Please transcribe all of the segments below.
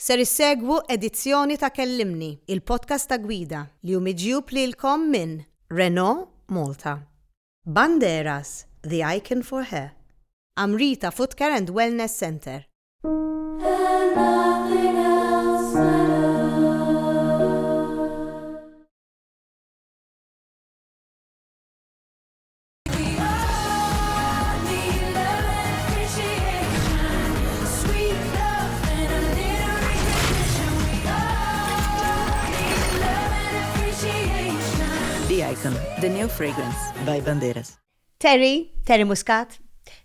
Ser issegwu edizzjoni ta' Kellimni, il-podcast ta' gwida, li hu miġjub lilkom minn Renault Malta, Banderas, the icon for hair, Amrita Footcare and Wellness Centre. Icon, the new fragrance by Banderas. Terry, Terry Muscat,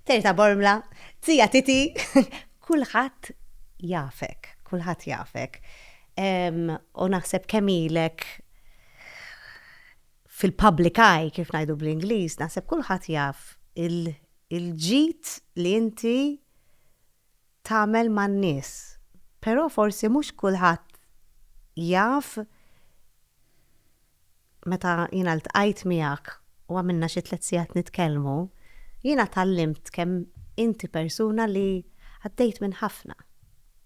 Terry ta' Bormla, Zija Titi, kulħadd jafek, kulħadd jafek. U naħseb kemilek fil-public eye, kif ngħidu bl-Ingliż, naħseb kulħadd jaf il-ġid li inti tagħmel man-nies. Però forsi mhux kulħadd jaf meta jiena ltqajt miegħek u għamilna xi tliet sigħat nitkellmu, jiena tgħallimt kemm inti persuna li għaddejt minn ħafna.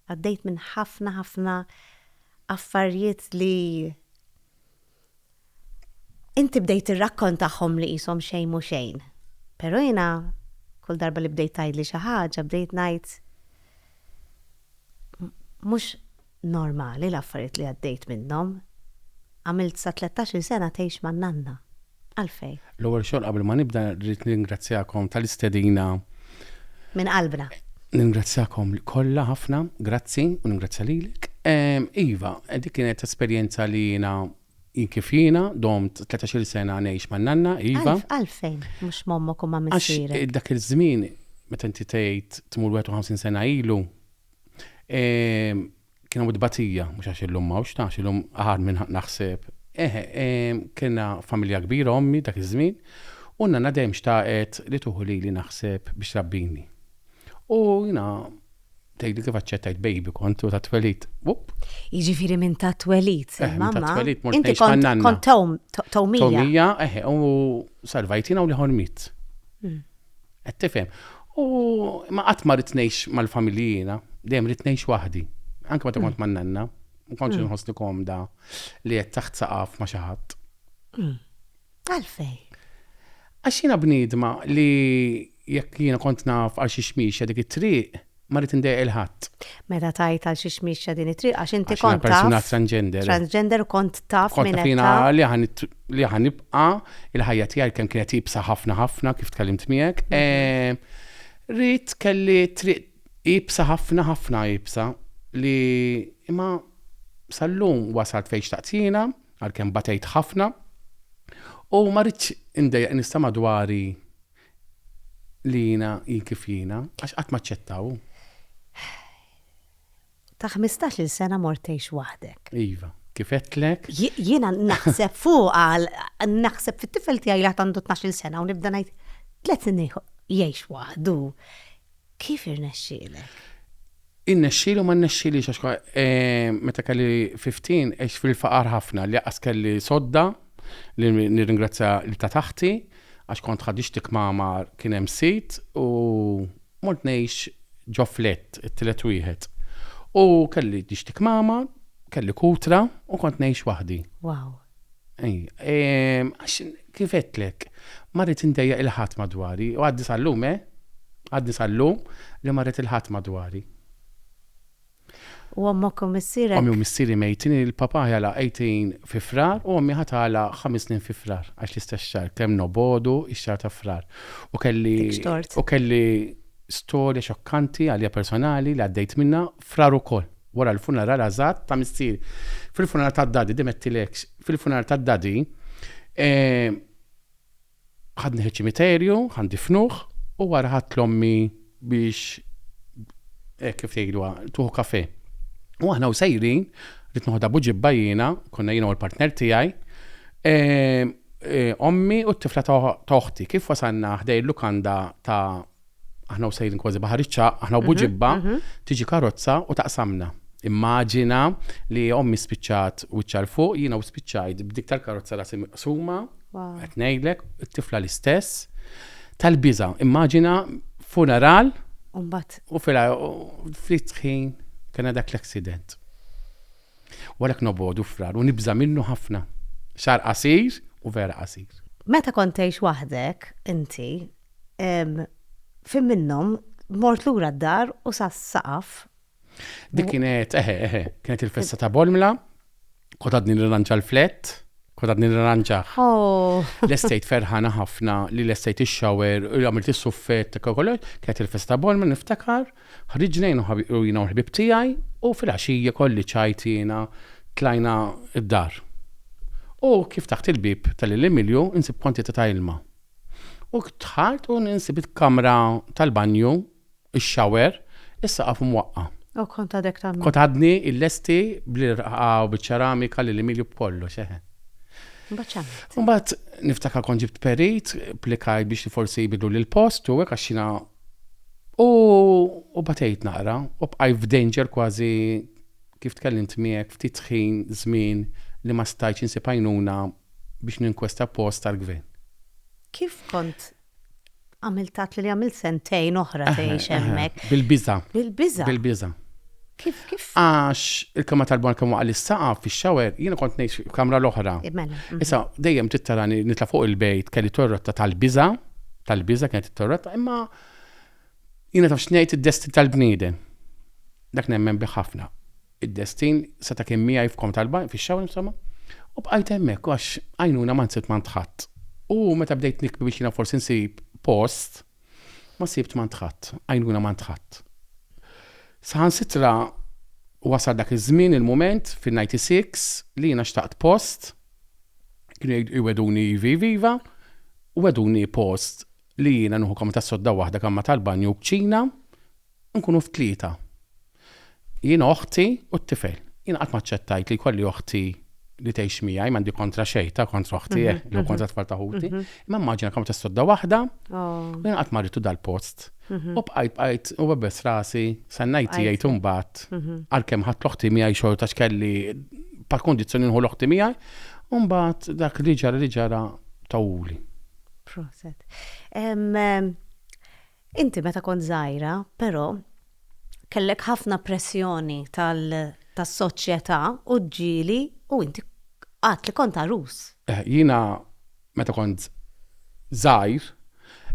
Għaddejt minn ħafna ħafna affarijiet li. Inti bdejt tirrakkontahom li qishom xejn mhu xejn. Però jiena kull darba li bdejt tgħidli xi ħaġa bdejt ngħid mhux normali l-affarijiet li għaddejt minnhom. Għamilt sa tlettax-il sena tgħix man-nanna. Għalfejn? L-ewwel xogħol qabel ma nibda rrid nirringrazzjakom tal-istedina. Minn qalbna. Ningrazzjakom kollha ħafna, grazzi u ningrazzja lilek. Iva, dik kienet esperjenza li jiena jien kif jiena, domt tletax-il sena ngħix man-nanna, iva. Għalf, għalfejn mhux m'ommok u ma' missierek? Għax dak iż-żmien, meta inti tgħid tmur 51 sena ilu, Kien hawn it-tbatija, mhux għax illum m'hawnx, ta' għax illum aħar minn naħseb. Eħe, kellna familja kbira ommi dak iż-żmien, u n-nanna dejjem xtaqet li tuħu lili naħseb biex trabbini. U jiena tgħidli kif aċċettajt baby kont u tat-twelid. Jiġifieri minn tat-twelid, eh, mamma. Tat-twelid mort ngħix man-nanna. Kont tawmija. Tawmija, eħe, u salvajtina u li ħormit. Hmm. Qed tifhem? U ma qatt ma rrid ngħix mal-familji jiena, dejjem rrid ngħix waħdi. Anke meta kont man-nanna, ma kontx mm. inħossni komda li qed taħt saqaf ma' xi ħadd. Mm. Għalfej. Għax jiena bniedma li jekk jiena kont naf għal xi xmiexa dik it-triq, Ma rrid indejjaq il-ħadd. Meta tgħid għal xiex miexja din it-triq għax inti kont taf. Persuna transgender. Transgender u kont taf minn hekk. Li aħna nibqa' il-ħajja tiegħi kemm kienet ibsa ħafna ħafna kif tkellimt miegħek. Mhm. Eh, rrid kelli triq ibsa ħafna ħafna ibsa li imma sal-lum wasalt fejn xtaqtina għalkemm batejt ħafna u ma rridx indejjaq nista' madwari Li jiena hi kif jiena, għax qatt m'aċċettaw hu. Ta' ħmistax-il sena mort tgħix waħdek. Iva, kif għedtlek. Jiena naħseb fuqha, naħseb fit-tifel tiegħi li għad għandu tnax-il sena u nibda ngħid, tliet snin jgħix waħdu, Kif irnexxielek? Irnexxieli u ma rnexxielix għax eh, meta kelli 15 għex fil-faqar ħafna li qas kelli sodda li nirringrazzja li ta' taħti għax kont ħadixtik mama kien hemm sit u mort ngħix ġo flett it-tielet wieħed. U kelli dixtik mama, kelli kutra u kont ngħix waħdi. Wow. Ehm, għax kif għedtlek, ma rrid indejjaq il-ħadd madwari, u għadni sal-lum, eh? Għadni sal-lum li ma rrid il-ħadd madwari. U ommok u missierek? Ommi u missieri mejtin, il-papa ħajala 18 fi frar u ommi ħatala 5 snin fi frar, għax l-istess xar, kemm nobodu ix-xar ta' frar. U kelli. U kelli storja xokkanti għalija personali li għaddejt minna Frar ukoll, wara l-funeral għażat ta' missieri. Fil-funeral tad-Daddy, dejjem għedtilekx, fil-funeral tad-Daddy, ħadni ċ-ċimiterju, ħa ndifnuh, u wara ħadt 'l ommi biex hekk kif tgħidluha, tieħu kafè. U aħna u sejrin, rrid noħodha b'uġibba jiena, konna jiena u l-partner tiegħi, ommi u t-tifla ta' oħti, kif wasalna ħdejn lukanda ta' aħna u sejrin kważi baħar iċċaq, aħna u mhm, buġibba, mhm. tiġi karozza u taqsamna. Immaġina li ommi spiċċat u ċar fuq, jina u spiċċajt b'dik tal-karozza rasi suma, qed ngħidlek, it-tifla l-istess, tal-biża. Immaġina funeral Umbat. U fila, fritħin, kena dak l-accident. Walek nobodu frar, u nibza minnu ħafna. Xar qasir u vera qasir. Meta kontejx waħdek, inti, Fim minnhom, mort lura d-dar u sa saqaf. Dik kienet, eħe, eħe, kienet il-festa ta' Bolmla, kont għadni nirranġa l-flett, kont għadni nirranġah. Oh. L-estate ferħana ħafna li l-estate ix-shower, u għamilt is-suffett, kollox, kienet il-festa ta' Bolmla niftakar, ħriġna jien u ħabi- u jiena u l-ħbib tiegħi, u fil-għaxija kolli ċajt jiena tlajna d-dar. U kif taħt il-bieb tal-Lil Emilio nsib kwantità ta' ilma. U dħalt u ninsib il-kamra tal-banju, ix-shower, is-saqaf imwaqqa'. U kont għadek tagħmel. Kont għadni illesti bl-irqqa u biċ-ċeramika lil Emilio b'kollox, eħe. Imbagħad x'għamilt? Imbagħad niftakar kont ġibt perit, plikajt biex forsi jbidluli l-post u hekk għax jiena u batejt naqra u bqajt f'danger kważi kif tkellimt miegħek ftit ħin, żmien li ma stajtx insib għajnuna biex ninkwesta post tal-gvern. Kif kont għamilt tgħidli li għamilt sentejn oħra tgħix hemmhekk? Bil-biża'. Bil-biża'? Bil-biża'. Kif, kif? Għax il-kamra tal-bar kemm waqa' l-saqaf fix-xawer, jiena kont ngħix f'kamra l-oħra. Mela. Mhm. Issa, dejjem tittarani nitla' fuq il-bejt kelli torrotta tal-biża', tal-biża' kienet it-torrotta, imma jiena taf x'ngħid id-destin tal-bniedem. Dak nemmen bih ħafna. Id-destin seta' kien miegħi f'kom tal-banj, fix-xawl insomma, u bqajt hemmhekk għax għajnuna ma nsibt m'għand ħadd. U meta bdejt nikbi biex jiena forsi nsib post, ma sibt m'għand ħadd, għajnuna m'għand ħadd. Saħansitra wasal dak iż-żmien, il-mument, fin-ninety six, li jiena xtaqt post, kienu jgħidu iwegħduni ivi iviva, u wegħduni post li jiena nieħu kamra tas-sodda waħda, kamra tal-banju u kċina, Nkunu t-tlieta. Jien, oħti u t-tifel. Jien qatt m'aċċettajt li jkolli oħti li tgħix miegħi, m'għandi kontra xejn, ta' kontra oħti, eh, jew kontra tfal ta' ħuti. Imma immaġina kemm tissodda waħda, u jien qatt ma rritu dal-post. U bqajt bqajt u bebbes rasi, sennajt jgħid imbagħad għalkemm ħadd l-oħti miegħi xorta x'kelli par kondizzjoni nħu l-oħti miegħi, u mbagħad dak li ġara li ġara tawwuli. Proset. Inti meta kont żgħira, però, kellek ħafna pressjoni tal tas-soċjetà u ġġieli u inti għedt li kont għarus. Eh, jiena meta kont żgħir,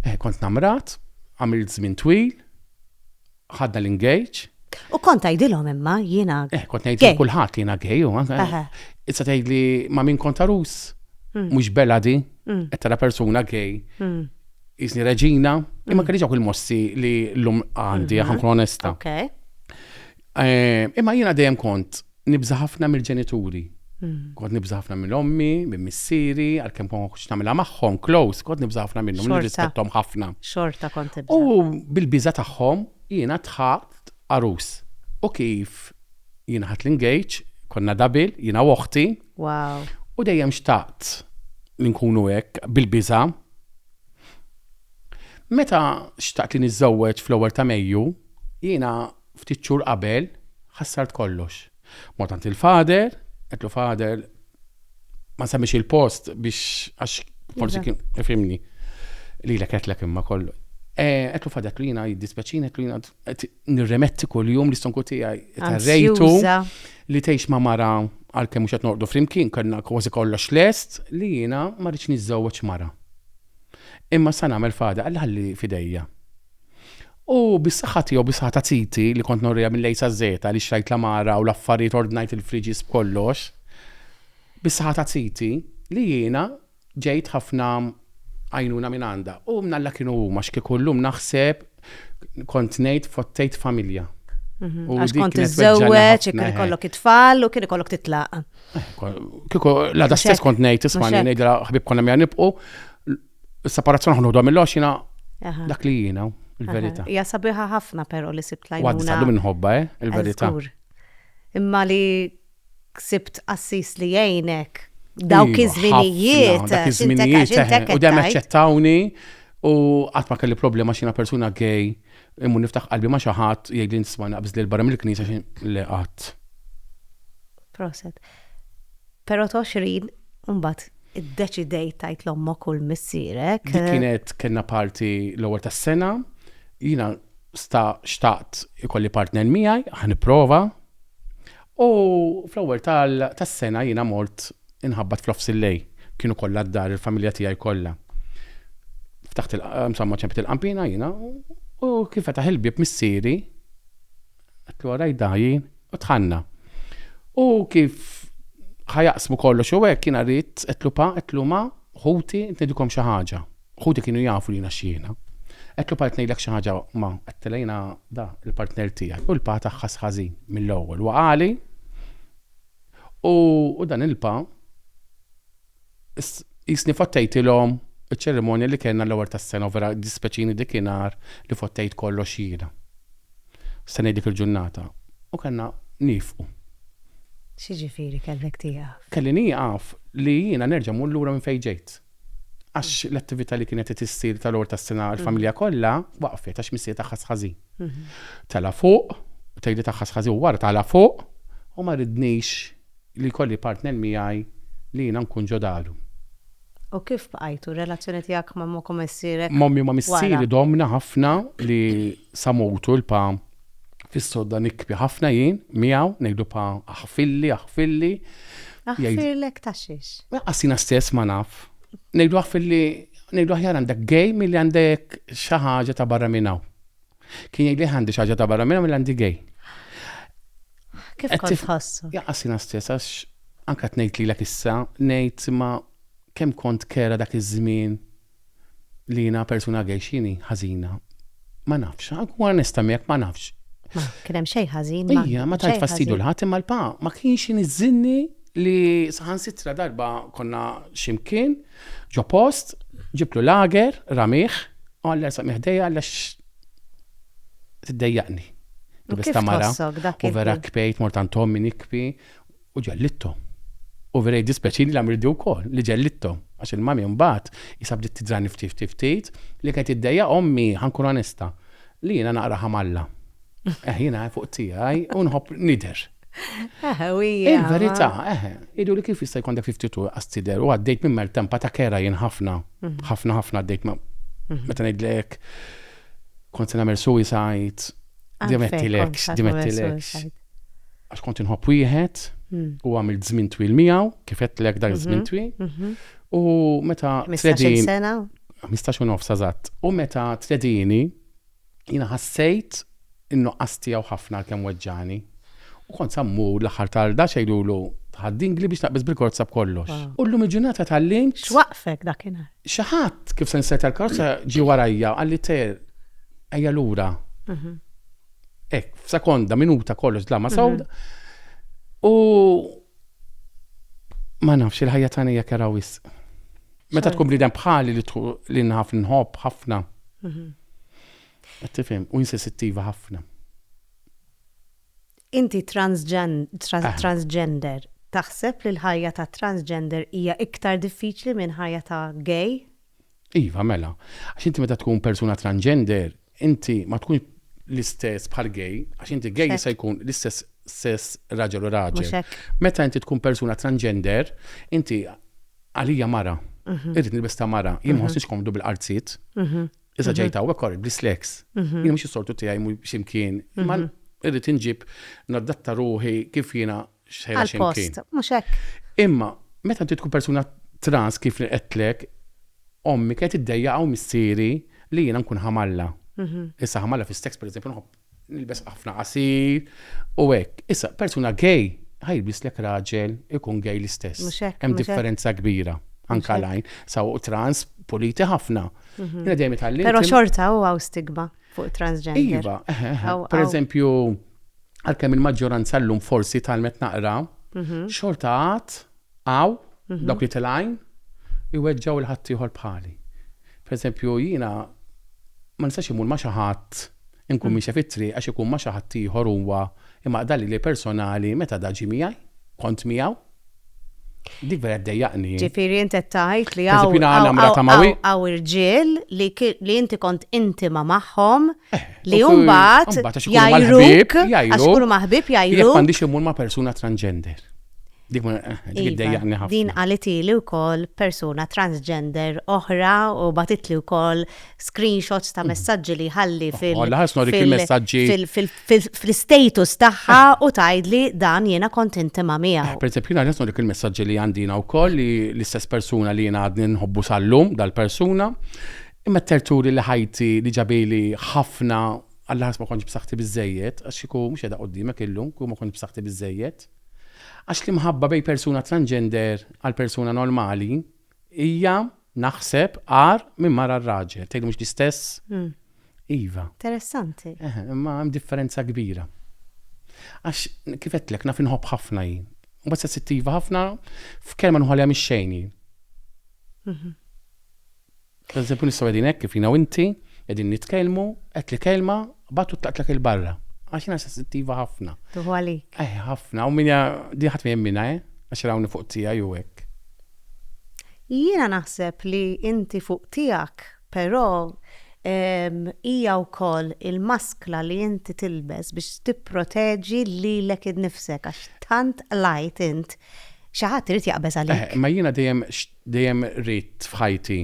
eh, kont namrat, għamilt żmien twil, ħadna l-engage. U kont tgħidilhom imma jiena. Eh, kont ngħid lil kulħadd li jiena gay u anke. Aha. Issa tgħidli ma' min kont għarus, mhux bela di, qed tara persuna gay. jisni reġina, imma kelli ġawk il-mossi li l-lum għandi, għan mhm. onesta. Eh, imma jina dejjem kont nibza ħafna mill-ġenituri. Mhm. Kont nibza ħafna minn ommi, minn missieri, għal-kem kon kux namela maħħom, close, kont nibza ħafna minnhom, nirrispettom ħafna. Xorta kont nibza. U bil-biza tagħhom jina tħat arus. U kif jina ħat l-engage, konna dabil, jina uħti, Wow. U dejjem xtaqt li nkunu hekk bil-biża. Meta xtaqt li niżżewweġ fl-ewwel ta' Mejju, jiena ftit xhur qabel ħassart kollox. Mort għand il-fader, qedlu fader ma semmix il-post biex għax forsi kien ifimni. Li l-ek imma kollu. Għetlu eh, fadet li jina jiddispeċin, għetlu jina nirremetti kuljum l-istonku tiegħi ta' rejtu li tgħix ma' mara għalkemm mhux qed noqdu flimkien kellna kważi kollox lest li jiena ma rridx niżżewweġ mara. Imma sa nagħmel fada Alla ħalli f'idejja. U bis-saħħa tiegħu bis-saħħa ta' titi li kont norriha mill-A sa Z li xtrajt l-għamara u l-affarijiet ordnajt il-friġis b'kollox. Bis-saħħa ta' titi li jiena Ġejt ħafna għajnuna minn għandha. U minn Alla kienu huma, x'kieku llum naħseb kont ngħid fottejt familja. Għax kont iżżewweġ, kien ikollok it-tfal u kien ikollok titlaq. Kieku la da stess kont ngħid isma' ngħid ħbib konna mija nibqu. Is-separazzjoni ħnudu mill-għoxina dak li jiena, il-verità. Hija sabiħa ħafna però li sibt lajna. Għadda minnħobba, eh, il-verità. Imma li Ksibt qassis li jgħinek dawk iż-żminijiet. Dak iż-żminijiet eħe. U dejjem aċċettawni u qatt ma kelli problema x'jiena persuna gay immur niftaħ qalbi ma' xi ħadd jgħidli nisma' naqbż lil barra mill-knisja xi le qatt. Proset. Però t'għoxrin imbagħad iddeċidejt tgħid l-ommok u l-missierek. Dik kienet kellna party l-ewwel tas-sena. Jiena sta xtaqt ikolli partner miegħi, ħa nipprova. U fl-ewwel tas-sena jiena mort inħabbat fl-Ofs il-Lay. Kienu kollha d-dar, il-familja tiegħi kollha. Ftaħt il-, insomma ċempet il-qanpiena jiena u kif fetaħ il-bieb missieri, għedtlu ara jdajjin u dħalna. U kif ħa jaqsmu kollox u hekk jiena ridt, għedtlu pa, għedtlu ma, ħuti, int ngħidilkom xi ħaġa. Ħuti kienu jafu li jiena xiehna. Qed l-part ngħidlek xi ħaġa ma, għedtilha jiena da, il-partner tiegħi, u l-pa tagħha ħass ħażin mill-ewwel. Huwa għali u u dan il-pa qisni fottejtilhom iċ-ċerimonja li kellna l-ewwel tas-sena u vera jdispjaċini dik inhar li fottejt kollox jiena. Se ngħid dik il-ġurnata u kellna niefqu. X'jiġifieri kellek tieqaf? Kelli nieqaf li jiena nerġa' mmur lura minn fejn ġejt. għax l-attività li kienet qed issir tal-għor tas-sena għall-familja kollha waqfet għax missier tagħha sħażi. Tala' fuq, tgħidli tagħha sħażi u wara tala' fuq u ma ridnix li jkolli partner miegħi li jiena nkun ġo daru. U kif bqajtu? Relazzjoni tiegħek ma' momkom missierek? Mommi ma' missieri domna ħafna li sa mutu l-pa Fis-sodda nikbi ħafna jien miegħu, ngħidlu pa aħfirli, aħfirli. Aħfirlek ta' xiex? Lanqas jiena stess ma naf. Ngħidlu aħfirli, ngħidlu aħjar għandek gay milli għandek xi ħaġa ta' barra minn hawn. Kien jgħidli aħjar għandi xi ħaġa ta' barra minn hawn milli għandi gay. Kif kont tħossu? Lanqas jiena stess għax anke tnejt lilek issa, ngħid ma kemm kont kera dak iż-żmien li jiena persuna gay x'inhi ħażina. Ma nafx, nkun onesta miegħek ma nafx. Ma kien hemm xejn ħażin. Ija, ma tajt fastidu l-ħadd imma l-pa ma kienx iniżżinni li saħan sitra darba konna ximkien ġo post ġiblu lager ramih għalla sa miħdejja għalla tiddejjaqni. Bista mara. U vera kpejt mortan tommi nikpi U ġellidthom. U vera jiddispjaċini li għamilt di wkoll, li ġellidthom, għax il-mami mbagħad qisha bdiet tidrani ftit ftit ftit li kienet iddejjaq ommi, ħa nkun onesta, li jiena naqra ħamalla. Eħ, jiena fuq tiegħi u nħobb nidher. Il-verità, eħ, idu li kif jista' jkun dak ftit u qas tidher u għaddejt minn maltempa ta' kera jien ħafna, mhm. ħafna ħafna għaddejt ma' mhm. meta ngħidlek kont se nagħmel suicide, dimettilek, dimettilek. għax kont inħobb wieħed u għamilt żmien twil miegħu, kif għedtlek dak żmien mhm, twil. Mhm. U meta tredini. sena? 15 u nofs eżatt. U meta tredini, jina ħassejt innu tiegħu ħafna kemm weġġani. U kont sammu l-aħħar tarda xejdulu tħaddin gli biex naqbis bil-korza b'kollox. Ah. U l-lum il-ġurnata tal-lim. X'waqfek dakinhar? Xaħat kif se nsejt tal-korza ġi warajja għalli ter ejja lura. Mhm. Ek, f'sekonda, minuta kollox dlama mhm. sawda. U ma nafx il-ħajja tagħna hija kera wis. Meta tkun bniedem bħali li li nħaf nħobb ħafna. Mhm. Tifhem, u insensittiva ħafna. Inti ah. transgender, taħseb li l-ħajja ta' transgender hija iktar diffiċli minn ħajja ta' gay? Iva, mela. Għax inti meta tkun persuna transgender, Inti ma tkunx l-istess bħal gay, għax inti gay jista' jkun l-istess sess raġel u raġel. Meta inti tkun persuna transgender, inti għalija mara. Mhm. Irrid nilbes ta' mara, jien ma mhm. ħossix komdu bil-qarzit. Mhm. Issa ġejt hawnhekk kor bl-islex. Jien mhux is-sortu tiegħi mhu x'imkien. Imma irrid inġib naddatta ruħi kif jiena xħajra ximkien. Mux hekk. Imma, meta inti tkun persuna trans kif li qedtlek, ommi kienet id-dejja għaw missieri li jiena nkun ħamalla. Mhm. Issa ħamalla fi steks, per eżempju, nilbes ħafna qasir u hekk. Issa, persuna gay, ħajbis lek raġel ikun gay l-istess. Hemm differenza kbira. Anka lajn, saw trans, politi ħafna. Mhm. Pero xorta u għaw stigma. fuq transgender. Iva, eh, eh, eh. per eżempju, għalkemm il-maġġoranza llum forsi talmet naqra, mhm. xorta għat għaw mhm. dawk li telajn iweġġaw il-ħaddieħor bħali. Per eżempju, jiena ma nistax imur ma xi ħadd inkun mm. miexa fit-triq għax ikun ma xi ħadd ieħor huwa imaqdali li personali meta daġi miegħi, kont miegħu, Dik vera ddejjaqni. Ġifieri inti qed tgħid li hawn irġiel li inti kont intima magħhom eh, li mbagħad jgħidluk għax ikunu maħbib jgħidluk. Jekk m'għandix imur ma' persuna transgender. Dik ma eh, iva, ddejjaqni ħafna. Din għalitili wkoll persuna transgender oħra u batitli wkoll screenshots ta' mm. messaġġi li ħalli fil- fl-istatus tagħha u tgħidli dan jiena kont intima miegħu. Eh, Pereżempju jiena nisma' dik il-messaġġi li għandina wkoll li l-istess persuna li jiena għadni nħobbu sal-lum dal-persuna imma terturi li ħajti li ġabili ħafna għal ħas ma konċ b'saħħti biżejjed, għax iku mhux qiegħda qudiemek illum, ku ma konċ b'saħħti biżejjed. Għax li mħabba bej persuna transgender għal persuna normali Hija, naħseb, agħar minn mara r-raġel. Tgħidli mhux l-istess? Iva. Interessanti. Eħe, imma hemm differenza kbira. Għax kif qedtlek naf inħobb ħafna jien. Mbagħad sensittiva ħafna f'kelma nħolha mix-xejn jien. Pereżempju nistgħu qegħdin hekk kif jiena u inti qegħdin nitkellmu, qed li kelma batu tlaqtlek il-barra. Għax jiena sensittiva ħafna. Tuħu għalik. Eh, ħafna, u minja di ħadd jemmina, eh? Għax rawni fuq tiegħi u hekk. Jiena naħseb li inti fuq tiegħek, però ehm, hija wkoll il-maskla li inti tilbes biex tipproteġi lilek innifsek għax tant qlajt int xi ħadd irid jaqbeż eh, għalik. Ma jiena dejjem Dejjem ridt f'ħajti.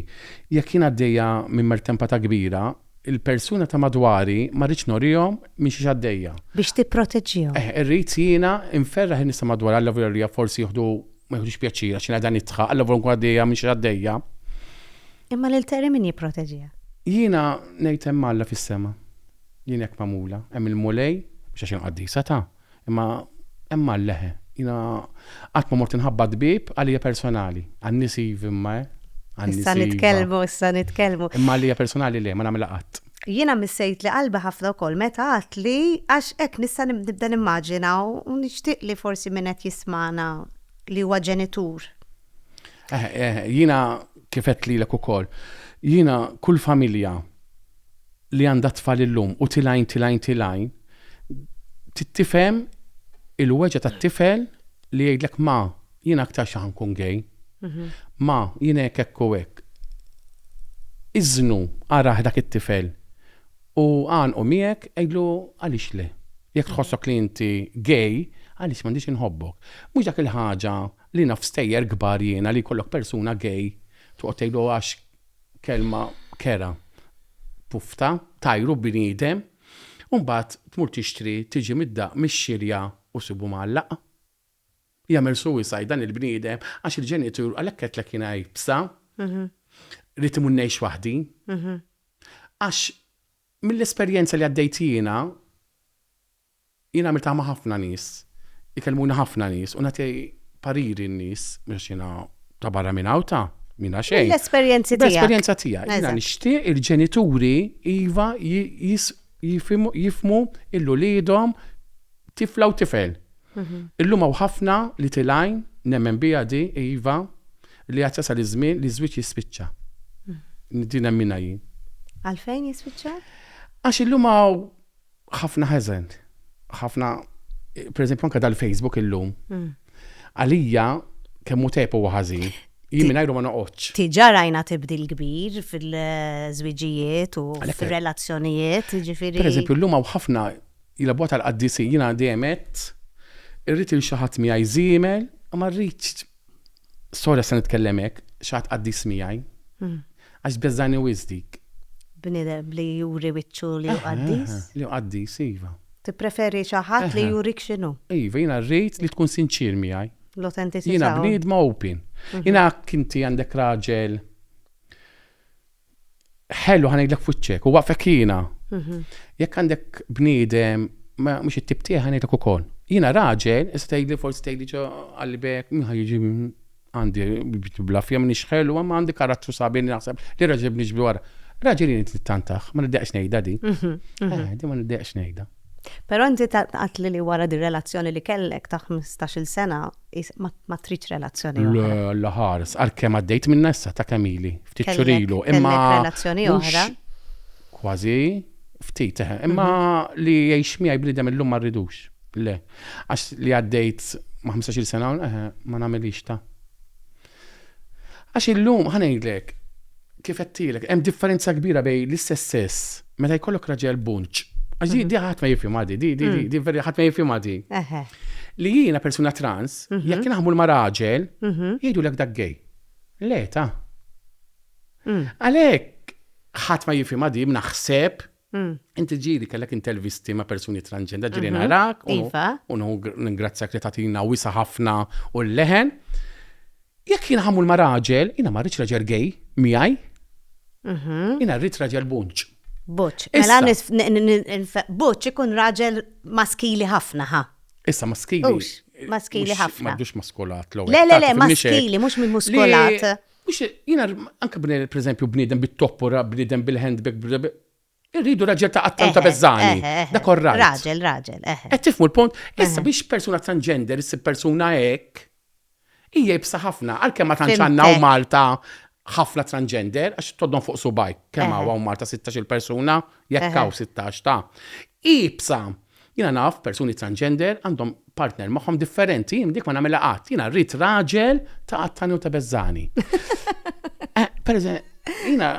Jekk jien għaddejja minn mertempata kbira, il-persuna ta' madwari ma rridx norihom minn xiex għaddejja. Biex tipproteġġihom. Eħ, irrid jiena nferraħ lin-nies ta' madwari, allavolja forsi jieħdu, ma jieħdux pjaċir għax jiena qiegħda nidħħaq, allavolja nkun għaddejja minn xiex għaddejja. Imma lil Terry min jipproteġiha? Jiena ngħid hemm Alla fis-sema. Jien hekk magħmula. Hemm il-Mulej, mhux għax jien qaddisa ta', Imma hemm Alla eħe. Jiena qatt ma mort inħabbat bieb għalija personali. Għan-nies iv imma eh. Issa nitkellmu, issa nitkellmu. Imma għalija personali le, ma nagħmilha qatt. Jiena missejtli qalbi ħafna wkoll meta għedt li għax hekk nista' nibda nimmaġina u nixtieq li forsi min qed jismagħna li huwa ġenitur, Eh, eh, jina kifet li l ukoll. Jina kull familja li għandha tfal illum u tilajn tilajn tilajn tittifem il-weġa ta' tifel li jgħidlek ma jina aktar xaħan kun gej. Mhm. Ma jina jek ekku ek. Iznu għaraħ dak it-tifel u għan u miegħek għidlu għalix le. Jek tħossok li inti gej, għalix mandiġ inħobbok. Mux dak il-ħaġa Li naf stejjer kbar jiena li jkollok persuna gay toqgħod tgħidlu għax kelma kerha, pufta, tajru bniedem u mbagħad tmur tixtri tiġi mid-daqq mix-xirja u ssibu mgħallaq. Jagħmel suicide dan il-bniedem għax il-ġenitur, għalhekk għedtlek jiena iebsa, rrid imur ngħix waħdi. Għax mill-esperjenza li għaddejt jiena, Jien għamiltha ma' ħafna nies, ikellmuni ħafna nies u nagħti pariri n-nies mhux għax jiena ta' barra minn hawn ta' minna xejn. Mill-esperjenzi tiegħek. Mill-esperjenza tiegħi. Jiena Eżatt. nixtieq il-ġenituri iva ji- jis- jifhimu- jifhmu lil uliedhom tifla u tifel. Illum hawn ħafna Little Għajn, nemmen biha di, iva, li għad jasal iż-żmien li ż-żwieġ jispiċċa. Din nemminha jien. Għalfejn jispiċċa? Għax illum hawn ħafna ħeżen. Ħafna pereżempju anke dal-Facebook illum. Mm. Għalija kemm hu tajb huwa ħażin. Jien mingħajru ma noqgħodx. Tiġa rajna tibdil kbir fil-żwiġijiet u fir-relazzjonijiet, ġifieri. Pereżempju llum hawn ħafna jilabwa tal-qaddisi jiena dejjem irrid il xi ħadd miegħi żiemel, ma rridx Sorry se nitkellem hekk, xaħat qaddis miegħi. Għax tbeżżani wisq dik. Bniedem li juri wiċċu li hu qaddis? Li hu qaddis, iva. Tippreferi xi ħadd li jurik x'inhu? Iva, jiena rrid li tkun sinċier miegħi. L-autenticità. Jiena bniedma open. Jiena hekk inti għandek raġel. ħellu ħanidlek fuċċek u waqfek jiena. Mhm. Jekk għandek bniedem ma mhux it-tip tiegħi ħanidlek ukoll. Jiena raġel, issa tgħidli forsi tgħidli ġo qalbek, min ħa jiġi mm, għandi blafja minn ixħelu, ma għandi karattru sabi li naħseb li raġel bniġbi wara. Raġel jien trid tantaħ, ma niddeqx ngħidha di. Mhm, mhm. Eh, di ma niddeqx ngħidha. Però inti tgħidli li wara dir-relazzjoni li kellek ta' ħmistax-il sena ma tridx relazzjoni oħra. Le, Alla ħares, għalkemm għaddejt minnha issa ta' kemm ili, ftit xhur ilu, imma. Kellek relazzjoni oħra? Kważi, ftit, eħe. Imma li jgħix miegħi bniedem illum ma rridux. Le. Għax li għaddejt ma' ħmistax-il sena, eħe, ma nagħmilhiex ta'. Għax illum, ħa ngħidlek, kif għedtilek, hemm differenza kbira bejn l-istess sess meta jkollok raġel bunċ. Għax di ħadd ma jifhimha di, di di di veri ħadd ma jifhimha di. Li jiena persuna trans, jekk jien ħammur ma' raġel, jgħidulek dak gay. Le ta'. Għalhekk ħadd ma jifhimha di, naħseb, Inti ġiri kellek intervisti ma' persuni transgender ġiri mhm. narak. Iva. U ningrazzjak li tatina wisa ħafna u l-leħen. Jekk jina ħamul ma' raġel, jina ma' rridx raġel gej, miħaj. Mhm. Jina rrit raġel bunċ. Buċ. Mela buċ ikun raġel maskili ħafna ħa. Issa maskili. Maskili ħafna. Maddux maskolat l Le, le, le, maskili, mux minn muskolat. Mhux jiena anke bniedem, pereżempju, bniedem bit-toppora, bniedem bil-handbag, Irridu raġel ta' qattan ta' bezzani. Da korra. Raġel, raġel. Qed tifmu l-punt? Issa biex persuna transgender issib persuna hekk, hija jibsa ħafna, għalkemm ma tantx għandna u Malta ħafna transgender, għax toddon fuq subaj, kemm hawn Malta 16 persuna, jekk hawn 16 ta' ibsa. Jiena naf persuni transgender għandhom partner magħhom differenti, jien dik ma nagħmilha qatt. Jiena rrid raġel ta' qattani u ta' beżżani. Eh, per jiena